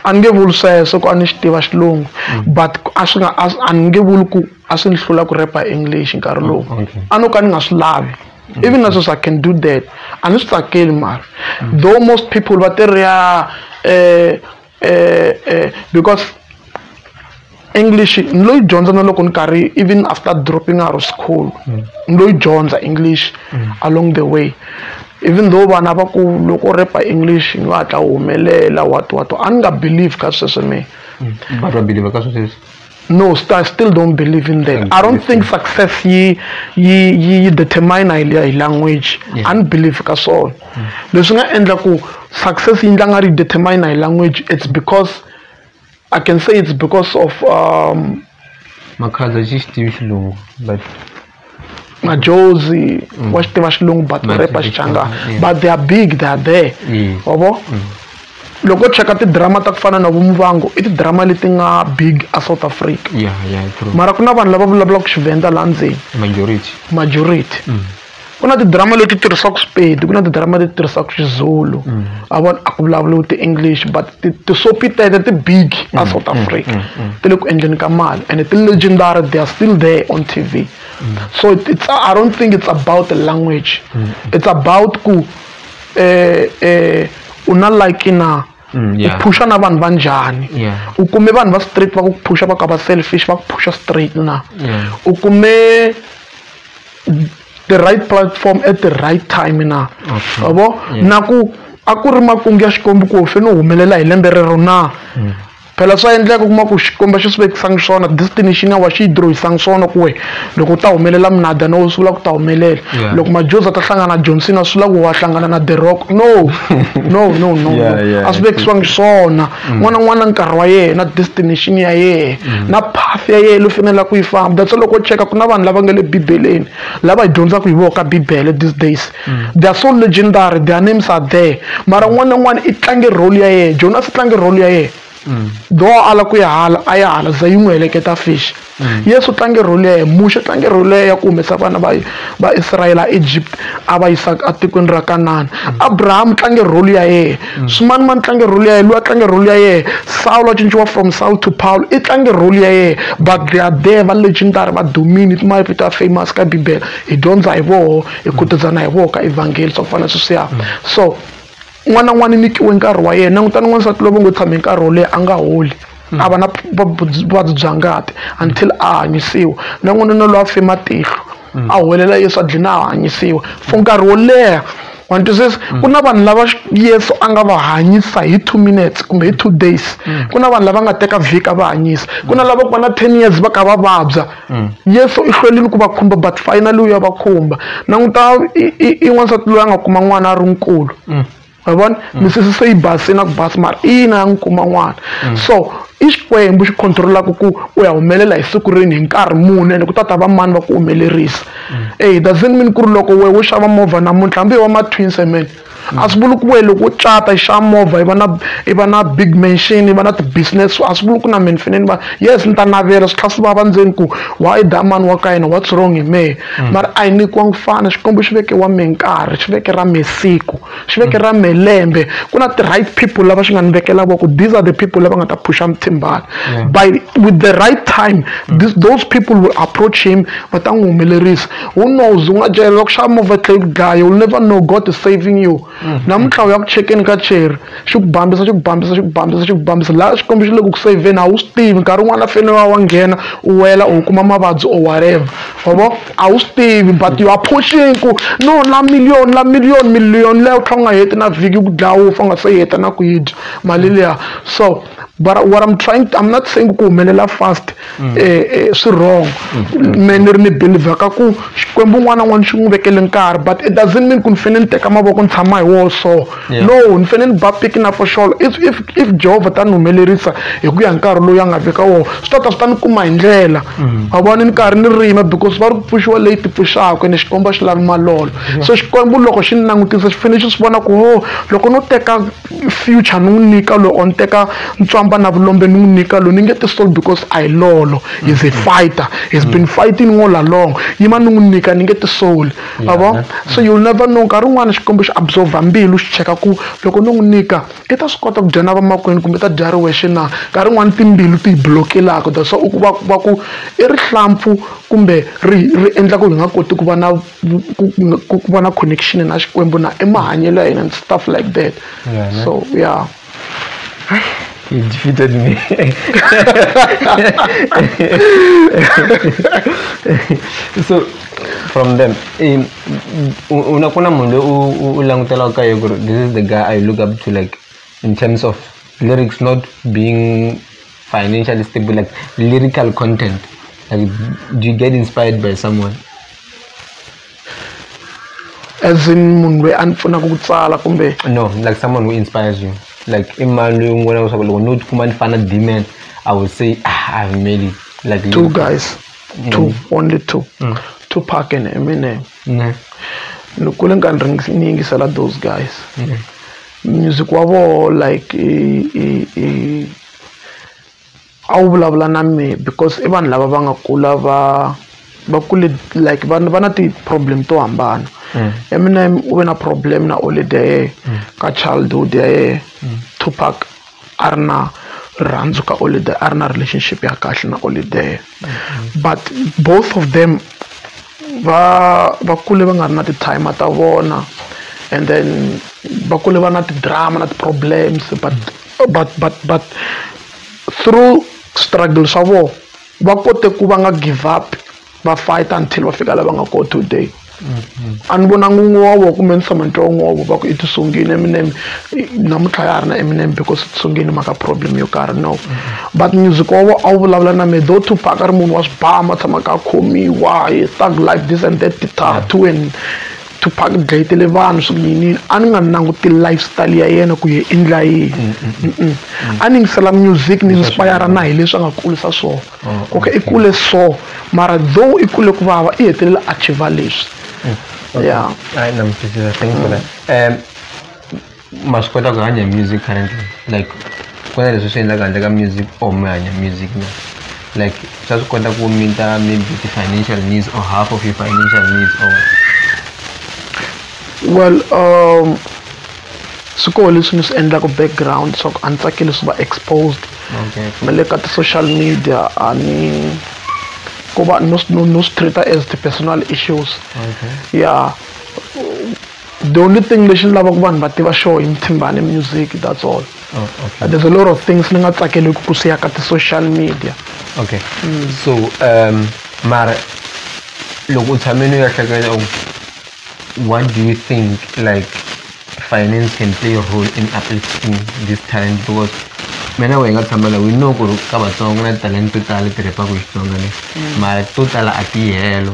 C: a ni nge vuli sweswo ku a ni xi tiva xilungu mm. but a swi nga a ni nge vuli ku a swi ni hlula ku repa english nkarhi lowu mm, a no ka ni nga swi lavi mm. even na sweswi i can do that a ni swi tsakeli mara though most people va tirha eh, eh, eh, because English ni lo yi dyondza na loko ni karhi even after dropping out of school mm. ni lo yi dyondza English mm. along the way even though vana va ku loko u repa English ni va hatla humelela what what a ni nga believe ka sweswe me mm. but wa believe
D: ka sweswe no I
C: still don't believe in that I don't think success yi yi yi determine hi hi language a ni believe ka swona leswi nga endla ku success yi ndla nga ri determine hi language it's because I can say it's because of um, makhaza
D: xi xi tivi xilungu but majozi
C: mm. wa xi tiva xilungu but repa xichanga but they are big they are there wa vo mm. loko cheka tidrama ta ku fana na vumvango i tidrama leti nga big a south africa mara ku
D: na vanhu lava
C: vulavulaka xivenda laha ndzeni majority majority mm. ku na tidrama leti tirhisaka swipedi ku na tidrama leti tirhisaka xizulu mm. a vona a ku vulavuriwi ti-english but tisopi tete ti-big mm, a south mm, africa ti le ku endleni ka mali and ti-legendary they are still there on t v so it's, i don't think it's about the language it's about ku eh, eh, u na like na Mm, yeah. u phusha na vanhu va njhani yeah. u kume vanhu va straight va ku phusha va ka va selfish va ku phusha straight na yeah. u kume the right platform at the right time na okay. bo yeah. na ku a ku ri makungu ya xikwembu ku fe no humelela hi lembe rero na mm. phela swa endleka kuma ku xikwembu a xi swi vekisanga swona destiny xi nga wa xi yi dirohisanga swona ku we loko u ta humelela minada no swi vula ku ta humelela loko majoza ta hlangana na johnson a swi vula ku wa hlangana na the rock no no no no a swi vekisiwangi swona mm. n'wana n'wana nkarhi wa yena destination ya yena mm. na path ya yena lo fanela ku yi famba that's loko cheka ku na vanhu lava nga le bibeleni lava hi dyondzaka hi vona ka bibele these days mm. they are so legendary their names are there mara un'wana na un'wana i tlange role ya yena jonas i tlange role ya yena mm. though ala ku ya hala a ya hala za yi n'wi heleketa fish mm. yesu tlange role ya yena muxe tlange role ya ya ku humesa vana va va israyele a egypt a va yisa etikweni ra kanana abrahamu tlange role ya yena swimanimani tlange role ya yena loyi a tlange role ya yena sawulo a cinciwa from saul to paul i tlange role ya yena but they are there va legendary va domini timavito ya famous ka bibele hi dyondza hi voho hi khutazana hi voho ka evhangeli swa ku fana sweswiya so n'wana n'wana i nyikiwe nkarhi wa yena langutani n'wansati lovo ngo tshame nkarhi wo leyi a nga holi mm. a va na vuvabyi bya ngati until a hanyisiwa na n'wanuna loyi a fe matihlo mm. a huwelela yesu a dlina a hanyisiwa for nkarhi wo leha wa twisisa mm. ku na vanhu lava yesu a nga va hanyisa hi two minutes kumbe hi two days ku na vanhu lava nga teka vhika va hanyisa ku na lava ku va na ten years va ka va vabya Mm. yesu i hlwelini ku va khumba but finally u ya va khumba languta i n'wansati loyi a nga kuma n'wana a ri nkulu mm. wa vona mm. misisi se yi basini na ku basi mara ina ya n'wi kuma n'wana so i xikwembu xi controlaka ku u ya humelela hi siku rini hi nkarhi muni ene ku ta ta va mani va ku humelerisa e doesn't mean ku ri loko wehe wo xava movha namuntlha hambi hi wa ma-twins amen a swi vuli ku we loko u cata i xa movha i va na i va na big mansion i va na ti-business a swi vuli ku na mina fane ni va yes ni ta navela swi tlha swi vava ndzeni ku why da mani wa ka yena what's wrong hi mehe mm. mara a hi nyikiwa ku fana xikwembu xi veke wa me nkarhi xi veke ra me siku xi veke ra me lembe ku na ti-right people lava xi nga ni vekela voko these are the people lava nga ta phusha muthimbani by with the right time this, those people will approach him va ta n'wi humelerisa who knows u nga cela ku xava movha tlhe yi ku dlaya you'll never know god is saving you namuntlha u ya ku chekeni ka cheri xi ku bambisa xi ku bambisa xi ku bambisa xi ku bambisa laha xikwembu xi le ku ku saveni a wu swi tivi nkarhi wun'wana a fanele wa wa nghena u wela u kuma mavabyi or whatever wavo a wu swi tivi but you are pushing ku no la million la million million leyo tlha u nga heti na vhiki ku dlaya wu fa u nga se yi heta na ku yi dya mali liya so but what i'm trying i'm not saying ku humelela fast mm. eh, eh, swi wrong mm. me ni ri ni believer ka ku xikwembu un'wana na un'wana xi n'wi vekele nkarhi but it doesn't mean ku ni fanele ni teka mavoko ni tshama hi woho so no ni fanele ni ba piki na foxolo if if if jehovha ta ni humelerisa hi ku ya nkarhi loyi a nga veka woho swi ta ta swi ta ni kuma hi ndlela mm. a vona ni karhi ni rima because va ri ku pfuxiwa leyi ti pfuxaka ene xikwembu a xi lavi malolo so xikwembu loko xi ni langutisa xi fanele xi swi vona ku ho oh, loko no teka future ni n'wi nyika loyi or ni teka ntswamba na vulombe ni n'wi nyika loyi ni nge ti soul because a hi lolo he's a mm. fighter he's been mm. fighting all along yima ni n'wi nyika ni nge ti soul a vo so you'll never know nkarhi wun'wana xikwembu xi absorba mbilu xi cheka ku loko ni n'wi nyika i ta swi kota ku dya na vamakwenu kumbe ta dya ri wexe na nkarhi wun'wana timbilu ti yi blokelaka that's why va ku i rihlampfu kumbe ri ri endla ku hi nga koti ku va na ku ku ku va na connection na xikwembu na i mahanyelo ya hina and stuff like that Yeah, ne? so yeah
D: He defeated me. so from them um, u- una kuna munhu loyi u- u- u langutelaka ka yena ku ri this is the guy i look up to like in terms of lyrics not being financially stable like lyrical content like do you get inspired by someone
C: as in munhu loyi a ni pfunaka ku tsala kumbe no ni like someone who
D: inspires you like i mani loyi u n'wi vonaka leswaku loko no tikuma ni fana na dman i will say ah, i have made it like two guys mm.
C: two only two mm. two park and eminem mm. ni kule ni karhi ni yingisela those guys mm. music wa vona like i, i, i a wu vulavula na mehe because i vanhu lava va nga kula va va kule like va va na ti-problem to hambana mm. eminem u ve na problem na olede ya yena mm. ka childhood ya yena mm. tupac a ri na rirhandzu ka olede a ri na relationship ya kahle na olede but both of them va va kule va nga ri na ti-time ta vona and then va kule va na ti-drama na ti-problems but but but but through struggle swa vona va kote ku va nga give up va fight until va fika lava nga kona today a ni vonanga un'we wa vona kumbe ni tshama ni twa un'we wa vona va ku i tisungile eminem namuntlha ya ha ri na eminem because i tisungile mhaka problem yo karhi no but music wa vona a wu vulavula na me though tupac a ri munhu wa swibama a tshamaka a khomiwa thug life this and that ti-tattoo and Tupac u dlayetele vanhu swi ku yiniyini a ni nga languti life style ya yena ku ye i ndla yini a ni yingisela music ni inspire na hi leswi a nga kulisa swona oh, okay i kule so mara though i kule ku vava i hetelela a chiva leswi mm, ya hayi na mi
D: thank you for that um ma swi kota ku hanya music currently like ku na leswi swi endlaka handle ka music or mi hanya music na like swa swi kota ku meet-a maybe ti-financial needs or half of your financial needs or
C: well um swi koho leswi ni swi endlaka background swa ku a ni tsakeli swi va exposed okay. na le ka ti-social media a ni ku va no swi treat-a as ti-personal issues okay. yeah the only thing lexi ni lavaka vanhu va tiva xo hi muthimbani music that's all oh, okay. there's a lot of things ni nga tsakeleki ku siya ka ti-social media okay mm.
D: so um mara loko u tshame ni ya hleketa what do you think like finance can play a role in uplifting this talent because mina we nga tshama la we know ku ri ka vatsongo na talent to tala ti rhepa ku xitsonga le mm. mara to tala a ti helo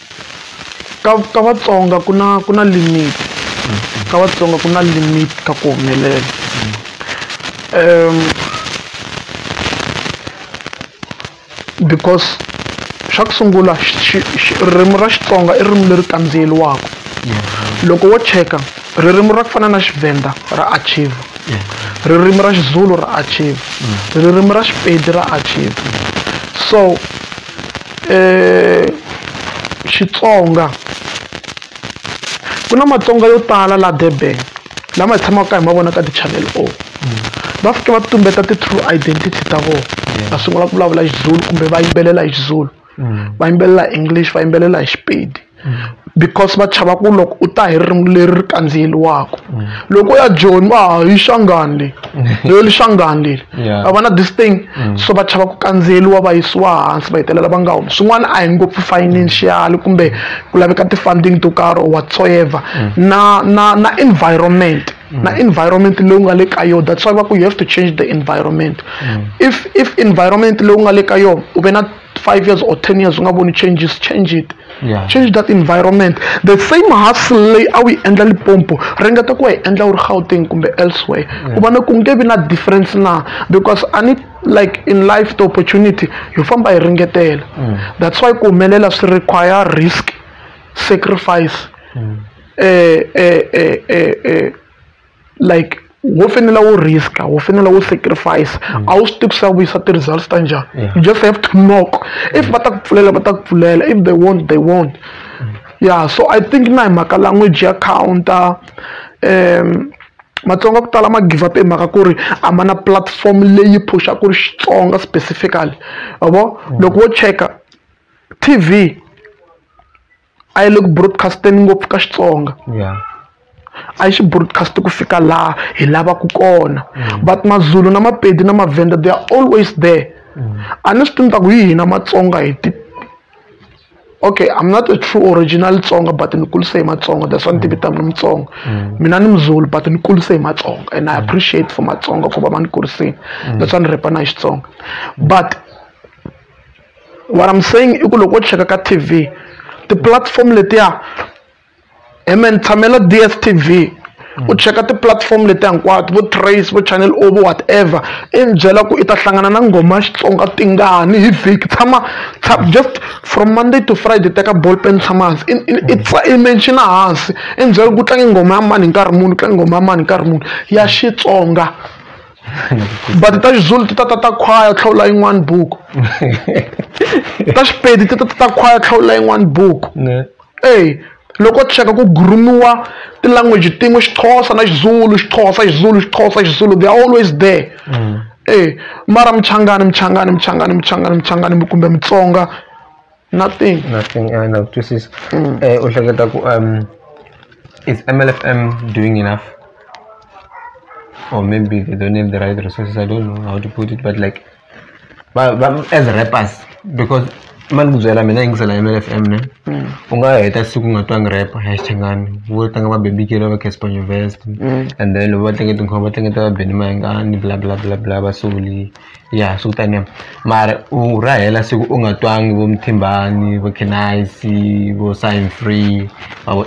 C: Ka ka Vatsonga ku na ku na limit ka Vatsonga ku na limit ka ku humelela because xa ku sungula ririmi ra Xitsonga i ririmi leri kandziyeriwaka loko wo cheka ririmi ra ku fana na Tshivenda ra archive ririmi ra Xizulu ra archive ririmi ra Xipedi ra archive so. Xitsonga ku na Matsonga yo tala laha Durban lama hi tshamaka hi ma vona ka ti-chanel O va fike va tumbeta ti-true identity ta vona va sungula ku vulavula Xizulu kumbe va yimbelela hi Xizulu va yimbelela hi English va yimbelela hi Xipedi. because va chava ku loko u ta hi ririmi leri ri kandziyeriwaka mm. loko ya joni va ha yi xangani leyi leyo li xangani leli va va na this thing mm. so va chava ku kandziyeriwa va yisiwa hansi va hetelela va nga humi swin'wana a hi ngopfu financial kumbe ku laveka ti-funding to karhi or whatsoever mm. na na na environment na environment leyi u nga le ka yona that's why va ku you have to change the environment if if environment leyi u nga le ka yona u ve na five years or ten years u nga voni changes change it yeah. change that environment the same hustle leyi a wu yi endla lipompo ringeta ku wa yi endla u ri gauteng kumbe elsewhere yeah. ku vona ku nge vi na difference na because a ni like in life the opportunity yo famba hi ringetela mm. that's why ku humelela swi require risk sacrifice mm. eh, eh, eh, eh, eh. like wo fanele wo risk wo fanele wo sacrifice mm. a wu swi tivi ku swi ya vuyisa ti-results ta njhani you just have to knock if va ta ku pfulela va ta ku pfulela if they won't they won't mm. yeah so i think na hi mhaka language ya counter um matsonga ku tala ma give up hi mhaka ku ri a ma na platform leyi phusha ku ri xitsonga specifically avo mm. loko wo cheka tv a yi le ku broadcast-eni ngopfu ka Xitsonga a yi xi broadcast ku fika laha hi lavaka kona mm. but mazulu na mapedi na mavhenda they are always there mm. a ni swi tivi ta ku yi hina matsonga hi ti okay i'm not a true original tsonga but ni kulise hi matsonga that's why ni tivita mina mutsonga mm. mina ni muzulu but ni kulise hi matsonga and i mm. appreciate for matsonga ku va ma ni kurisini mm. that's why ni repa na hi xitsonga but what I'm saying i ku loko wo cheka ka TV ti-platform letiya hi me ni tshamela DSTV u cheka ti-platform leti hinkwato vo trace vo channel o vo whatever i ni byela ku i ta hlangana na nghoma ya xitsonga tingani hi vhiki tshama just from monday to friday teka ball pen tshama hansi i menshina hansi i ni byela ku tlange nghoma ya mani hi nkarhi muni tlange nghoma ya mani hi nkarhi muni ya xitsonga but ta xizulu ti ta ta ta khwaya tlhawula yin'wani buku ta xipedi ti ta ta ta khwaya tlhawula yin'wani buku eyi loko cheka ku gurumiwa tilanguage tin'we xixhosa na xizulu xixhosa xizulu xixhosa xizulu they are always there mm. e mara muchangani muchangani muchangani muchangani muchangani kumbe mutsonga nothing nothing i know
D: this is mm. eh, u hleketa ku um is mlfm doing enough or maybe they don't have the right resources i don't know how to put it but like but, but as rappers because mani ku byela mina yingisela mlfm ne mm. u nga heta siku nga twangi rap hashtangani vo tlanga va bebikelo va caspanyo vest mm. and then loko va tlenge tinkhoma va tlengeta va beni mayingani bla bla bla bla va soli ya swi ku taniya mara u ra hela siku u nga twangi vo Mthimbani vo Khenazi vo Sign Free ma vo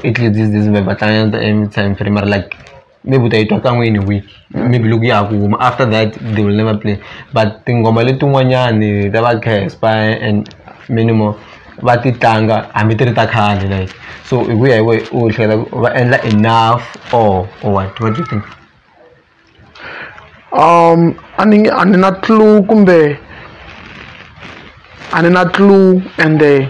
D: va tlangela mara like maybe u ta yi twa kan'we in a week maybe loko ya ha ku huma after that they will never play but tinghoma letin'wanyani ta va Casper and many more va ti tlanga hambi ti ri ta khale like so hi ku ya hi wehe u hleketa ku va endla enough or or what what do you think.
C: a ni nge a ni na clue kumbe a ni na clue ende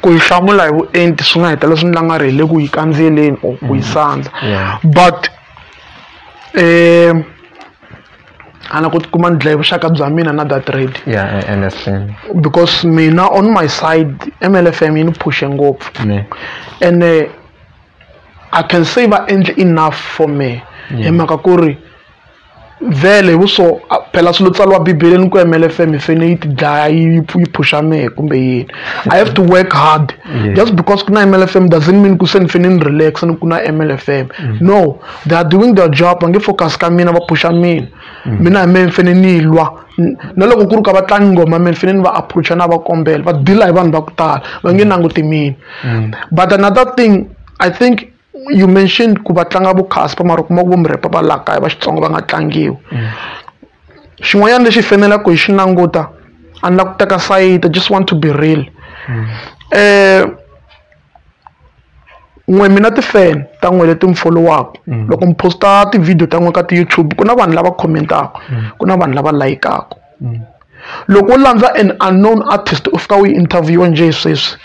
C: ku yi hlamula hi vuenti swi nga heta leswi ni la nga ri hi le ku yi kandzeleni or ku yi mm. sandza but um ana ku tikuma ni dlaye vuxaka bya mina na that red yeah, MFM.
D: because mina
C: on my side mlfm yi ni phushe ngopfu ene I can say va endle enough for me hi mhaka ku ri vhele hi vuswo phela swilo tsariwa bibeleni ku mlfm hi fene yi ti dlaya yi yi phusha mehe kumbe yini i have to work hard yeah. just because ku na mlfm doesn't mean ku se ni fene ni relax ni ku na mlfm mm. no they are doing their job va nge focus ka mina va phusha mina mm. mina hi mehe ni fene ni lwa na loko ku ri ka vatlangi ngoma mina fane ni va approacha na va kombela va deal hi vanhu va ku tala va nge nanguti mina mm. but another thing i think you mentioned ku va tlanga vo casper mara kuma ku vo murepa va laha kaya va xitsongo va nga tlangiwi mm. xin'wanyana lexi fanelaka hi xi languta a ni la ku teka sayita just want to be real mm. eh n'we mina ti-fan ta n'we leti mi folowaku mm. loko mi posta ti-video ta n'we ka ti-youtube ku na vanhu lava khomentaku mm. ku na vanhu lava layikaku mm. loko u landza an unknown artist u fika u yi interviewa njhe sweswi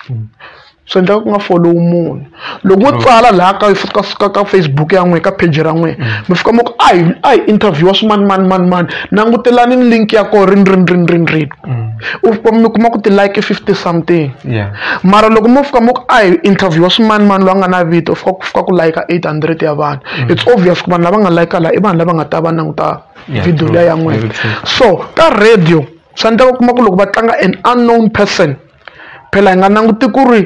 C: swi endlaka ku nga follow munhu loko wo tsala laha ka fika fika ka facebook ya n'wina ka page ra n'wina mm. mi fika mi ku a hi a hi interviewa swimanimanimanimani langutelani ni link ya koho rini rini rini rini rini mi kuma ku ti-like i fifty something mara loko mo fika mo ku a hi interview-wa swimanimani loyi a nga na vito fika ku fika ku layika eight hundred ya vanhu mm. it's obvious ku vanhu lava nga layika laha i vanhu lava nga ta va languta video liya ya n'wina so ka radio swa endleka u kuma ku loko va tlanga an unknown person phela hi nga languti ku ri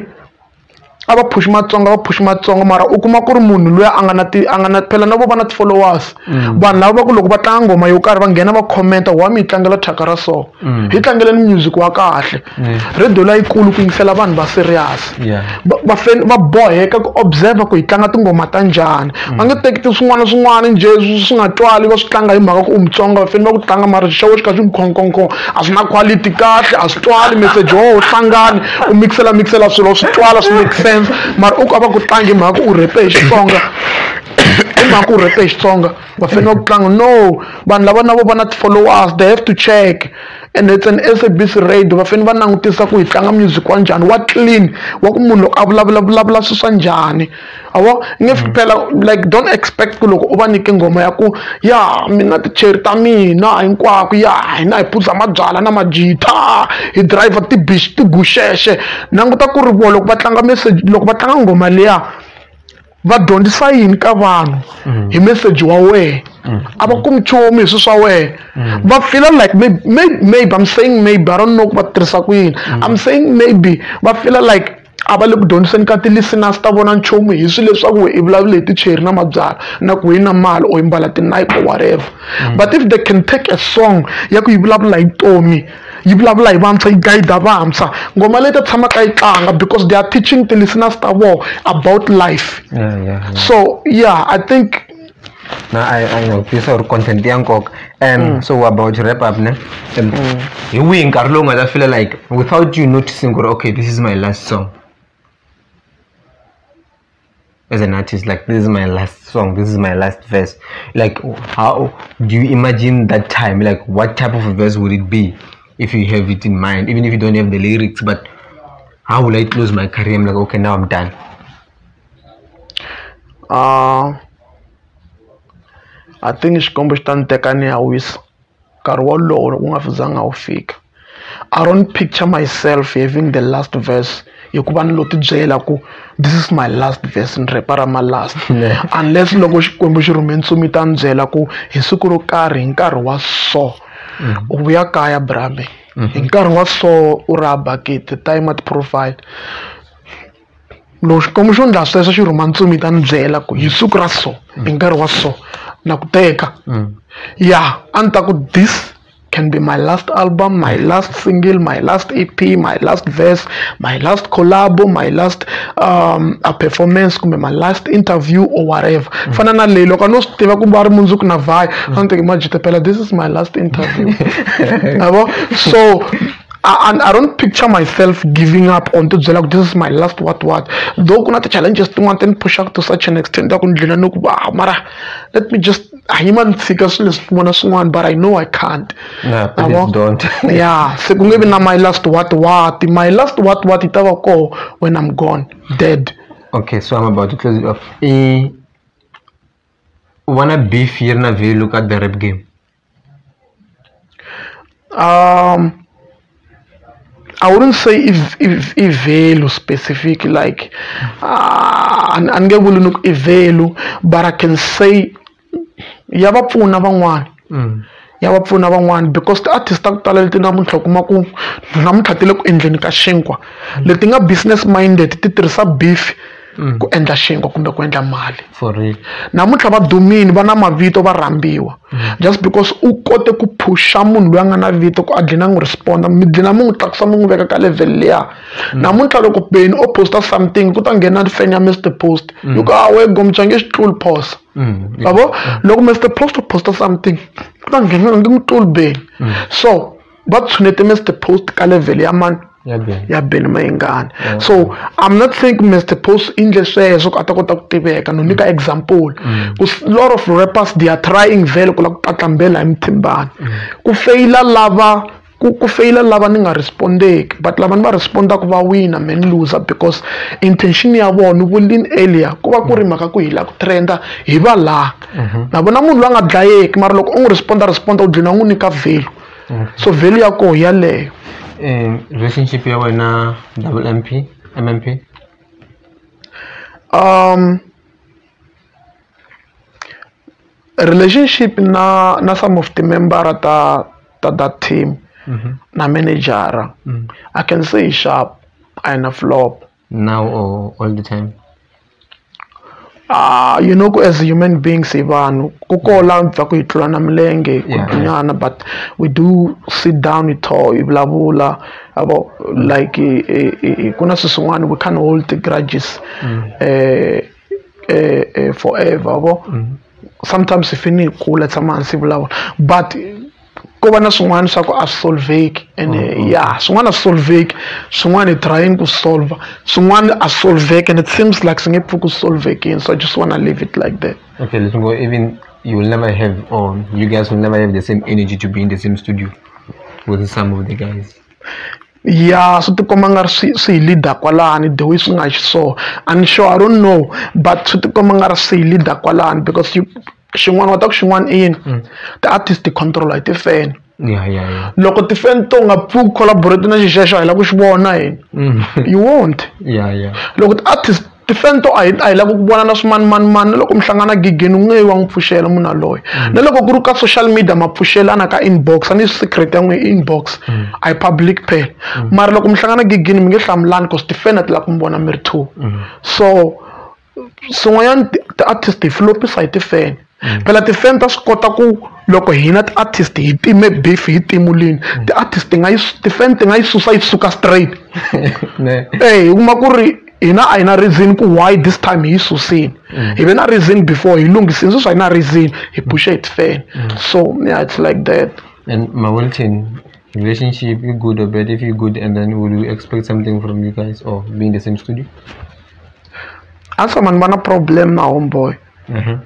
C: a va phuxi matsonga va phuxi matsonga mara u kuma ku ri munhu loyi a nga na ti a nga na phela na vo va na ti-followers mm. vanhu lava va ku loko va tlanga nghoma yo karhi va nghena va commenta wa mi yi tlangela thyaka ra so mm. hi tlangeleni music wa kahle mm. radio layikulu ku yingisela vanhu va serious va boheka ku observer ku hi tlanga tinghoma ta njhani mm. va nge teki ti swin'wana swin'wana njhe swi nga twali va swi tlanga hi mhaka ku u mutsonga va fanele va ku tlanga mara xixewo xi kha xi mukhonkhonkhon a swi na quality kahle a swi twali message wo hlangani u mixela mixela swilo swi twala swi make sense mara u ka va ku tlangi mhaka u rhepe hi xitsonga hi mhaka u rhepe hi xitsonga va fanele va ku tlanga no vanhu lava na vo va na ti-followers they have to check and it's an sabc radio va fanele va langutisa ku hi tlanga music wa njhani wa clean wa ku munhu loko a vulavula vulavula swi swa njhani a vo nge mm. phela like don't expect ku loko u va nyike nghoma ya ku ya mina ticheri ta mina hinkwako ya hina hi phuza mabyala na majita hi driver tibish tiguxexe languta ku ri vo loko va tlanga message loko va tlanga nghoma liya va dyondzisa yini ka vanhu mm. hi message wa wehe mm. a va kumi nchumu hi swi swa wehe va fila like maybe, maybe i'm saying maybe i don't know ku va tirhisa ku yini i'm saying maybe va fila like a va le ku dyondziseni ka ti-listeners ta vona nchumu hi swilo leswaku i vulavula hi ticheri na mabyala na ku hi na mali or imbala tinipe or whatever mm. but if they can take a song ya ku yi vulavula hi vutomi yi vulavula hi vantshwa yi guida vantshwa ngoma leyi ta tshamaka yi tlanga because they are teaching ti-listeners ta vona about life yeah, yeah, yeah. so yeah i think na a
D: a nga vutisa ku ri content ya nkoka and mm. so we're about to wrap up ne and mm. hi wihi nkarhi lowu nga ta fila like without you noticing ku ri okay this is my last song as an artist like this is my last song this is my last verse like how do you imagine that time like what type of a verse would it be if you have it in mind even if you don't have the lyrics but how will i close my career i'm like okay now i'm done
C: I think Xikwembu xi ta ni teka ni ya wisa nkarhi wolowo loko wu nga zanga wu fika I don't picture myself having the last verse hikuva ni lo tibyela ku this is my last verse ni rhepa ra ma last unless loko Xikwembu xi rhume ntsumi yi ta ni byela ku hi siku ro karhi hi nkarhi wa so mm. u vuya kaya brame mm-hmm. hi nkarhi wa so u ra bakiti time at profile loko xikwembu xo ndla sweswo xi rhuma ntsumi ta ni byela ku hi siku ra so hi nkarhi wa so na ku teka mm. ya a ni ta ku this can be my last album my last single my last ep my last verse my last collabo my last um, a performance kumbe my last interview or whatever mm. fana na leyi loko a no swi tiva ku va ri mundzuku na vhayo a ni teke majitepela this is my last interview yabo so and i don't picture myself giving up on to byela ku this is my last what what though ku na ti-challenges tin'wana ti ni pushaka to such an extent ta ku ni dlina ni ku va mara let me just a yi ma ni tshika swilo leswi swin'wana swin'wana but i know i can't nah, please
D: don't. yeah se ku nge
C: vi na my last what what my last what what yi ta va koho when i'm gone dead okay so i'm
D: about to close it off e u vona beef yi ri na value ka the rap game
C: Um, I wouldn't say if if i value specific like uh, a ni nge vuli ni ku i value but I can say ya va pfuna van'wana mm. ya va pfuna van'wana because ti-artist ta ku tala leti namuntlha u kuma ku namuntlha ti le ku endleni ka xinkwa mm. leti nga business minded ti tirhisa beef mm. ku endla xinkwa kumbe ku endla mali
D: namuntlha va dumini
C: va na mavito va rhambiwa mm. just because u kote ku phusha munhu loyi a nga na vito ku a dlina n'wi responda mi dlina mi n'wi tlakusa mi n'wi veka ka level leya mm. namuntlha loko beni o posta something ku ta nghena fan ya mr post yi ku awe gomcha nge xi tluli phosa yabo loko mr post u posta something ku ta nghena nge mi tluli beni so va tshunete Mr Post ka level ya mani ya Benny Mayengani mm. so I'm not think Mr Post i ndle sweswo ku a ta kota ku tiveka no nyika mm. example mm. ku lot of rappers they are trying vele ku la ku tlatlambela hi mithimbani ku feyila lava ku ku feyila lava ni nga respondeki but lava ni va respondaka va wina man loser because intention ya vona vulin earlier ku va ku ri mhaka ku hila ku trenda hi va laha mhm. na vona munhu loyi a nga dlayeki mara loko u n'wi responda responda u dlina n'wi nyika value so value ya koho yaleyo um relationship
D: ya wena double m p m m p um
C: relationship na na some of the membera ta ta that team mm -hmm. na managera mm -hmm. i can say sharp ayina flop now or
D: all the time Ah,
C: you know ku as human beings hi vanhu ku kola bya ku hi tlula na milenge ku Yeah. dunyana but we do sit down hi tho hi vulavula abo like eh, eh, eh, ku na swilo swin'wana we can't hold the grudges eh, eh, eh, forever abo sometimes hi fini hi kula hi tshama hansi hi vulavula but ko va na swin'wana swa ku a swi solveki ene mm-hmm. ya swin'wana a swi solveki swin'wana hi trying ku solver swin'wana a swi solveki and it seems like swi nge pfuki ku solvekini so i just wanna leave it like that okay let's go even
D: you will never have or you guys will never have the same energy to be in the same studio with some of the guys ya
C: swi tikomba nga ri swi swi hi leader kwalani the way swi nga xiswona and sure i don't know but swi tikomba nga ri swi hi leader kwalani because you xin'wana wa ta ku xin'wana i yini mm. ti-artist ti-controla hi tifeni
D: loko tifeni to
C: nga pfuki collaborate na xixexo a hi lava ku xi vona hina mm. you won't loko
D: ti-artist
C: tifeni to a hi a hi lava ku vona na swimanimanimani na loko mi hlangana gigeni u nge yi wa n'wi pfuxela munhu aloye mm. na loko ku ri ka social media ma pfuxelana ka inbox a ni secret ya n'wi inbox a hi public phela mara loko mi hlangana gigini mi nge hlamulani bcause tifeni a ti lava ku mi vona mi ri two so swin'wanyana ti-artist hi flop-isa hi ti-fan mm. phela ti-fan ta swi kota ku loko hina ti-artist hi time beef hi timulini mm. ti-artist ti nga yi ti-fan ti nga yi susa yi suka straight e hi kuma ku ri hina a hi na reason ku why this time hi yi susini mm. hi ve na reason before hi lunghisini sweswi a hi na reason hi pushe hi ti-fan so yeah it's like that and mawilton
D: relationship you good or bad if you good and then would you expect something from you guys or being the same studio
C: a ni tshama ni va na problem na homeboy mhm.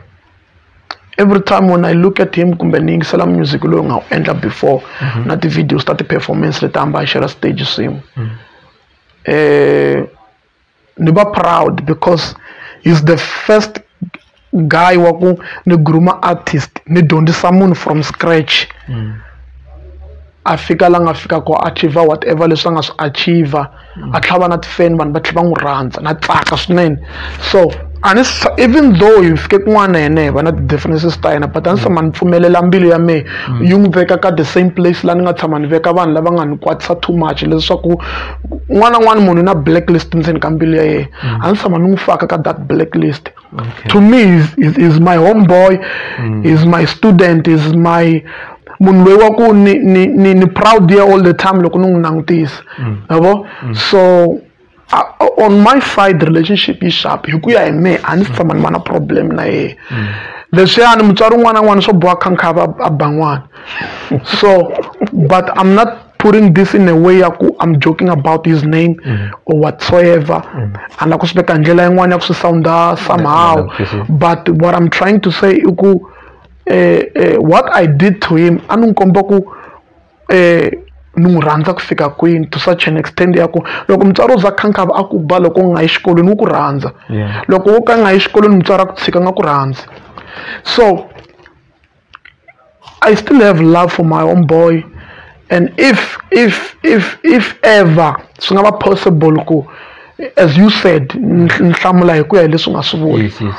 C: every time when i look at him kumbe ni yingisela music loyi nga wu endla before mhm. na ti-videos ta ti-performance leti hamba hi xela stage swin'we mhm. um ni va proud because he's the first guy wa ku ni gruma artist ni dyondzisa munhu from scratch mm. a fika la nga fika ku achiever whatever leswi a nga swi achiever mm. a tlhava na tifan vanhu va tlhela va n'wi rhandza na tsaka swinene so ani even though hi fike kun'wana yena hi va na ti-differences ta yena but a ni se ma ni pfumelela mbilu ya mehe mm. yi n'wi veka ka the same place laha ni nga tshama ni veka vanhu lava nga ni kwatisa too much leswaku n'wana n'wana munhu na blacklist ndzeni ka mbilu ya yena mm. a ni tshama ni n'wi faka ka that blacklist Okay. To me, is is is my homeboy, mm. is my student, is my munhu loyi wa ku ni ni ni ni proud ye all the time loko ni n'wi langutisa mm. yabo mm. so uh, on my side relationship yi sharp hi ku ya hi me a ni si tshama ni va na problem na yena mm. leswiyani mutswari un'wana na un'wana swo boha khankha a ba n'wana so but i'm not putting this in a way ya ku i'm joking about his name mm -hmm. or whatsoever mm -hmm. ana ku swi veka hi ndlela yin'wana ya ku swi sounda somehow mm -hmm. but what i'm trying to say i ku eh, eh, what i did to him a ni n'wi komba ku eh, ni n'wi rhandza ku fika kwini to such an extent ya ku loko mutswari u za khankava a ku ba loko u nga yi xikolweni wu ku rhandza loko wo ka nga yi xikolweni mutswari a ku tshika nga ku rhandzi so I still have love for my own boy and if if if if ever swi nga va possible ku as you said ni hlamula hi ku ya hi leswi nga swi vula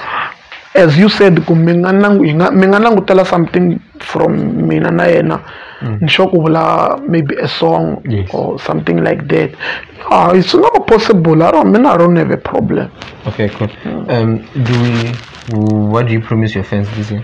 C: as you said ku mi nga nangu hi nga mi nga langutela something from mina na yena mm. ni sure ku vula maybe a song yes. or something like that ah it's not possible i don't mean i don't have a problem okay cool
D: mm. um do we what do you promise your fans this year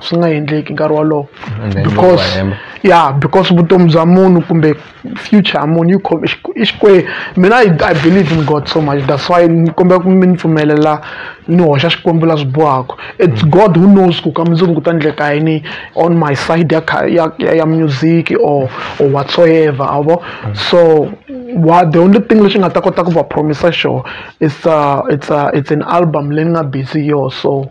C: swi nga endleki nkarhi wolowo because ya because vutomi bya munhu kumbe future ya munhu yi khome i xikwembu mina i i believe in god so much that's why ni kombela ku mi ni pfumelela ni hoxa xikwembu la swi bohaka it's mm. god who knows ku ka mundzuku ku ta endleka yini on my side ya ya ya music or or whatsoever a vo mm. so wa the only thing lexi nga ta kota ku va promisa xona it's a it's a it's an album leyi ni nga busy yo so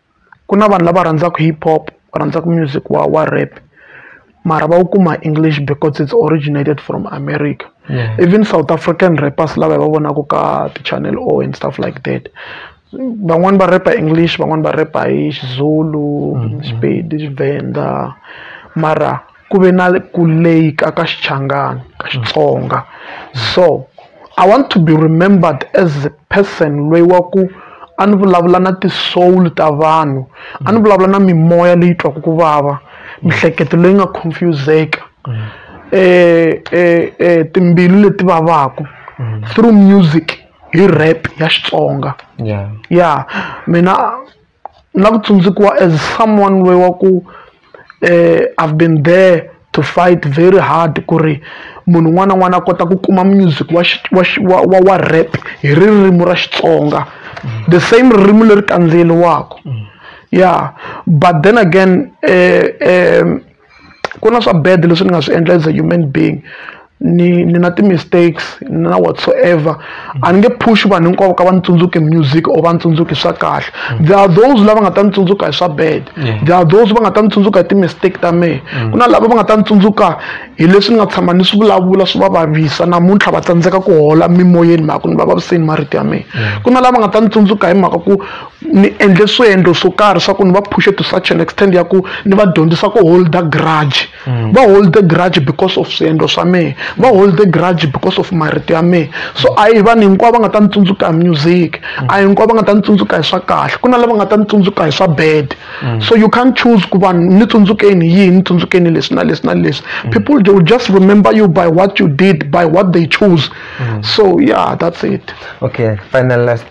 C: ku na vanhu lava rhandzaka hip hop va rhandzaka music wa wa rap mara va wu kuma English because it's originated from America even South African rappers lava hi va vonaka ka ti-channel o and stuff like that van'wani va repa English van'wani va repa hi Xizulu Xipedi Xivenda mara. ku ve na ku leyika ka Xichangani, ka Xitsonga. So I want to be remembered as a person loyi wa ku a ni vulavula na ti-soul ta vanhu, a ni vulavula na mimoya leyi twaka ku vava, miehleketo leyi nga confuse-eka, timbilu leti vavaka through music hi rap ya Xitsonga. Ya mina. na ku tsundzukiwa as someone loyi wa ku um I've been there to fight very hard ku ri munhu un'wana na un'wana a kota ku kuma music wa wa wa wa wa rap hi ririmi ra Xitsonga the same ririmi leri kandziyeriwaka ya but then again um ku na swa bad leswi ni nga swi endla as a human being ni ni na ti-mistakes na whatsoever a ni nge push vanhu hinkwavo ka va ni tsundzuki music or va ni tsundzuki swa kahle mm. there are those lava nga ta ni tsundzuka hi swa bad there are those va nga ta ni tsundzuka hi ti-mistake ta mehe mm. ku na lava va nga ta ni tsundzuka hi leswi ni nga tshama ni swi vulavula swi va vavisa namuntlha va tsandzeka ku hola mimoyeni mhaka ku ni va vaviseni marito ya mina ku na lava nga ta ni tsundzuka hi mhaka ku ni endle swiendlo swo karhi swa ku ni va phushe to such an extent ya ku ni va dyondzisa ku hold grudge mm. va hold grudge because of swiendlo swa mehe va hold grudge because of marito ya mehe so a hi vanhu hinkwavo va nga ta ni tsundzuka hi music mm. a hinkwavo va nga ta ni tsundzuka hi swa kahle ku na lava nga ta ni tsundzuka hi swa bad mm. so you can't choose ku vanhu ni tsundzukeni yihi ni tsundzukeni leswi na leswi na leswi people they will just remember you by what you did by what they choose so yeah that's it okay final
D: last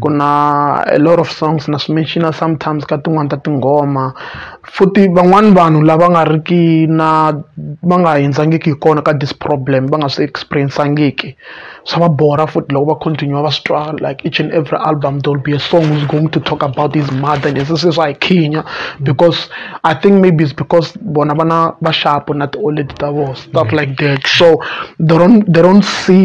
C: ku na a lot of songs na swi mention-a sometimes ka tin'wani ta tinghoma futhi van'wani vanhu lava nga ri ki na va nga hundzangiki hi kona ka this problem va nga swi experience-angiki swa va borha futhi loko va continue va swi twa like each and every album there will be a song who's going to talk about his mother and se se swa hi khinya because i think maybe it's because bona vana va shapu na ti-old lady ta vona stuff like that so they don't they don't see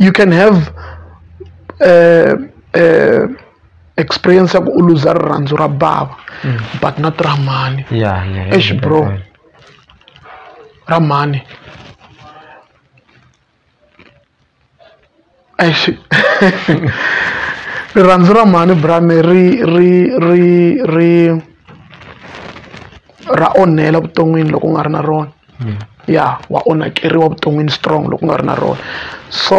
C: you can have uh, uh, experience ya ku u luza rirhandzu ra bava mm. but not ra mhani yeah, yeah, yeah, ex bro
D: yeah,
C: ra mhani rirhandzu ra mhani brame ri ri ri ri ra onhela vuton'wini loko u nga ri na rona ya wa onhakeriwa vuton'wini strong loko u nga ri na rona so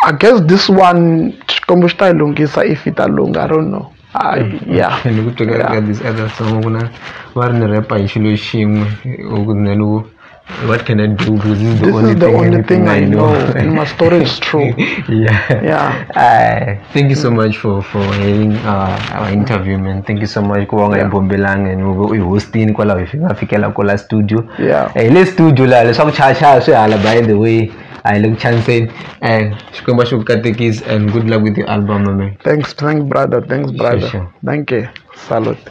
C: I guess this one Xikwembu xi ta yi lunghisa if yi ta lungha I don't know I ya ni ku tweka ka
D: this other song ku na va ri ni rap-a hi xilo xin'we or ku na loko what can I do because this is the this only is the thing only thing I know and my story is
C: true yeah yeah
D: thank you so much for for having uh, our interview man thank you so much ku va nga hi bombelanga and u hi hostini kwalaho hi nga fikela ko la studio Yeah. Eh, hi le studio
C: laha
D: leswaku chayachaya swi hala by the way a hi le ku chaniseni and xikwembu a xi ku katekisi and good luck with your album my man
C: thanks thanks
D: brother thanks brother sure. thank
C: you salute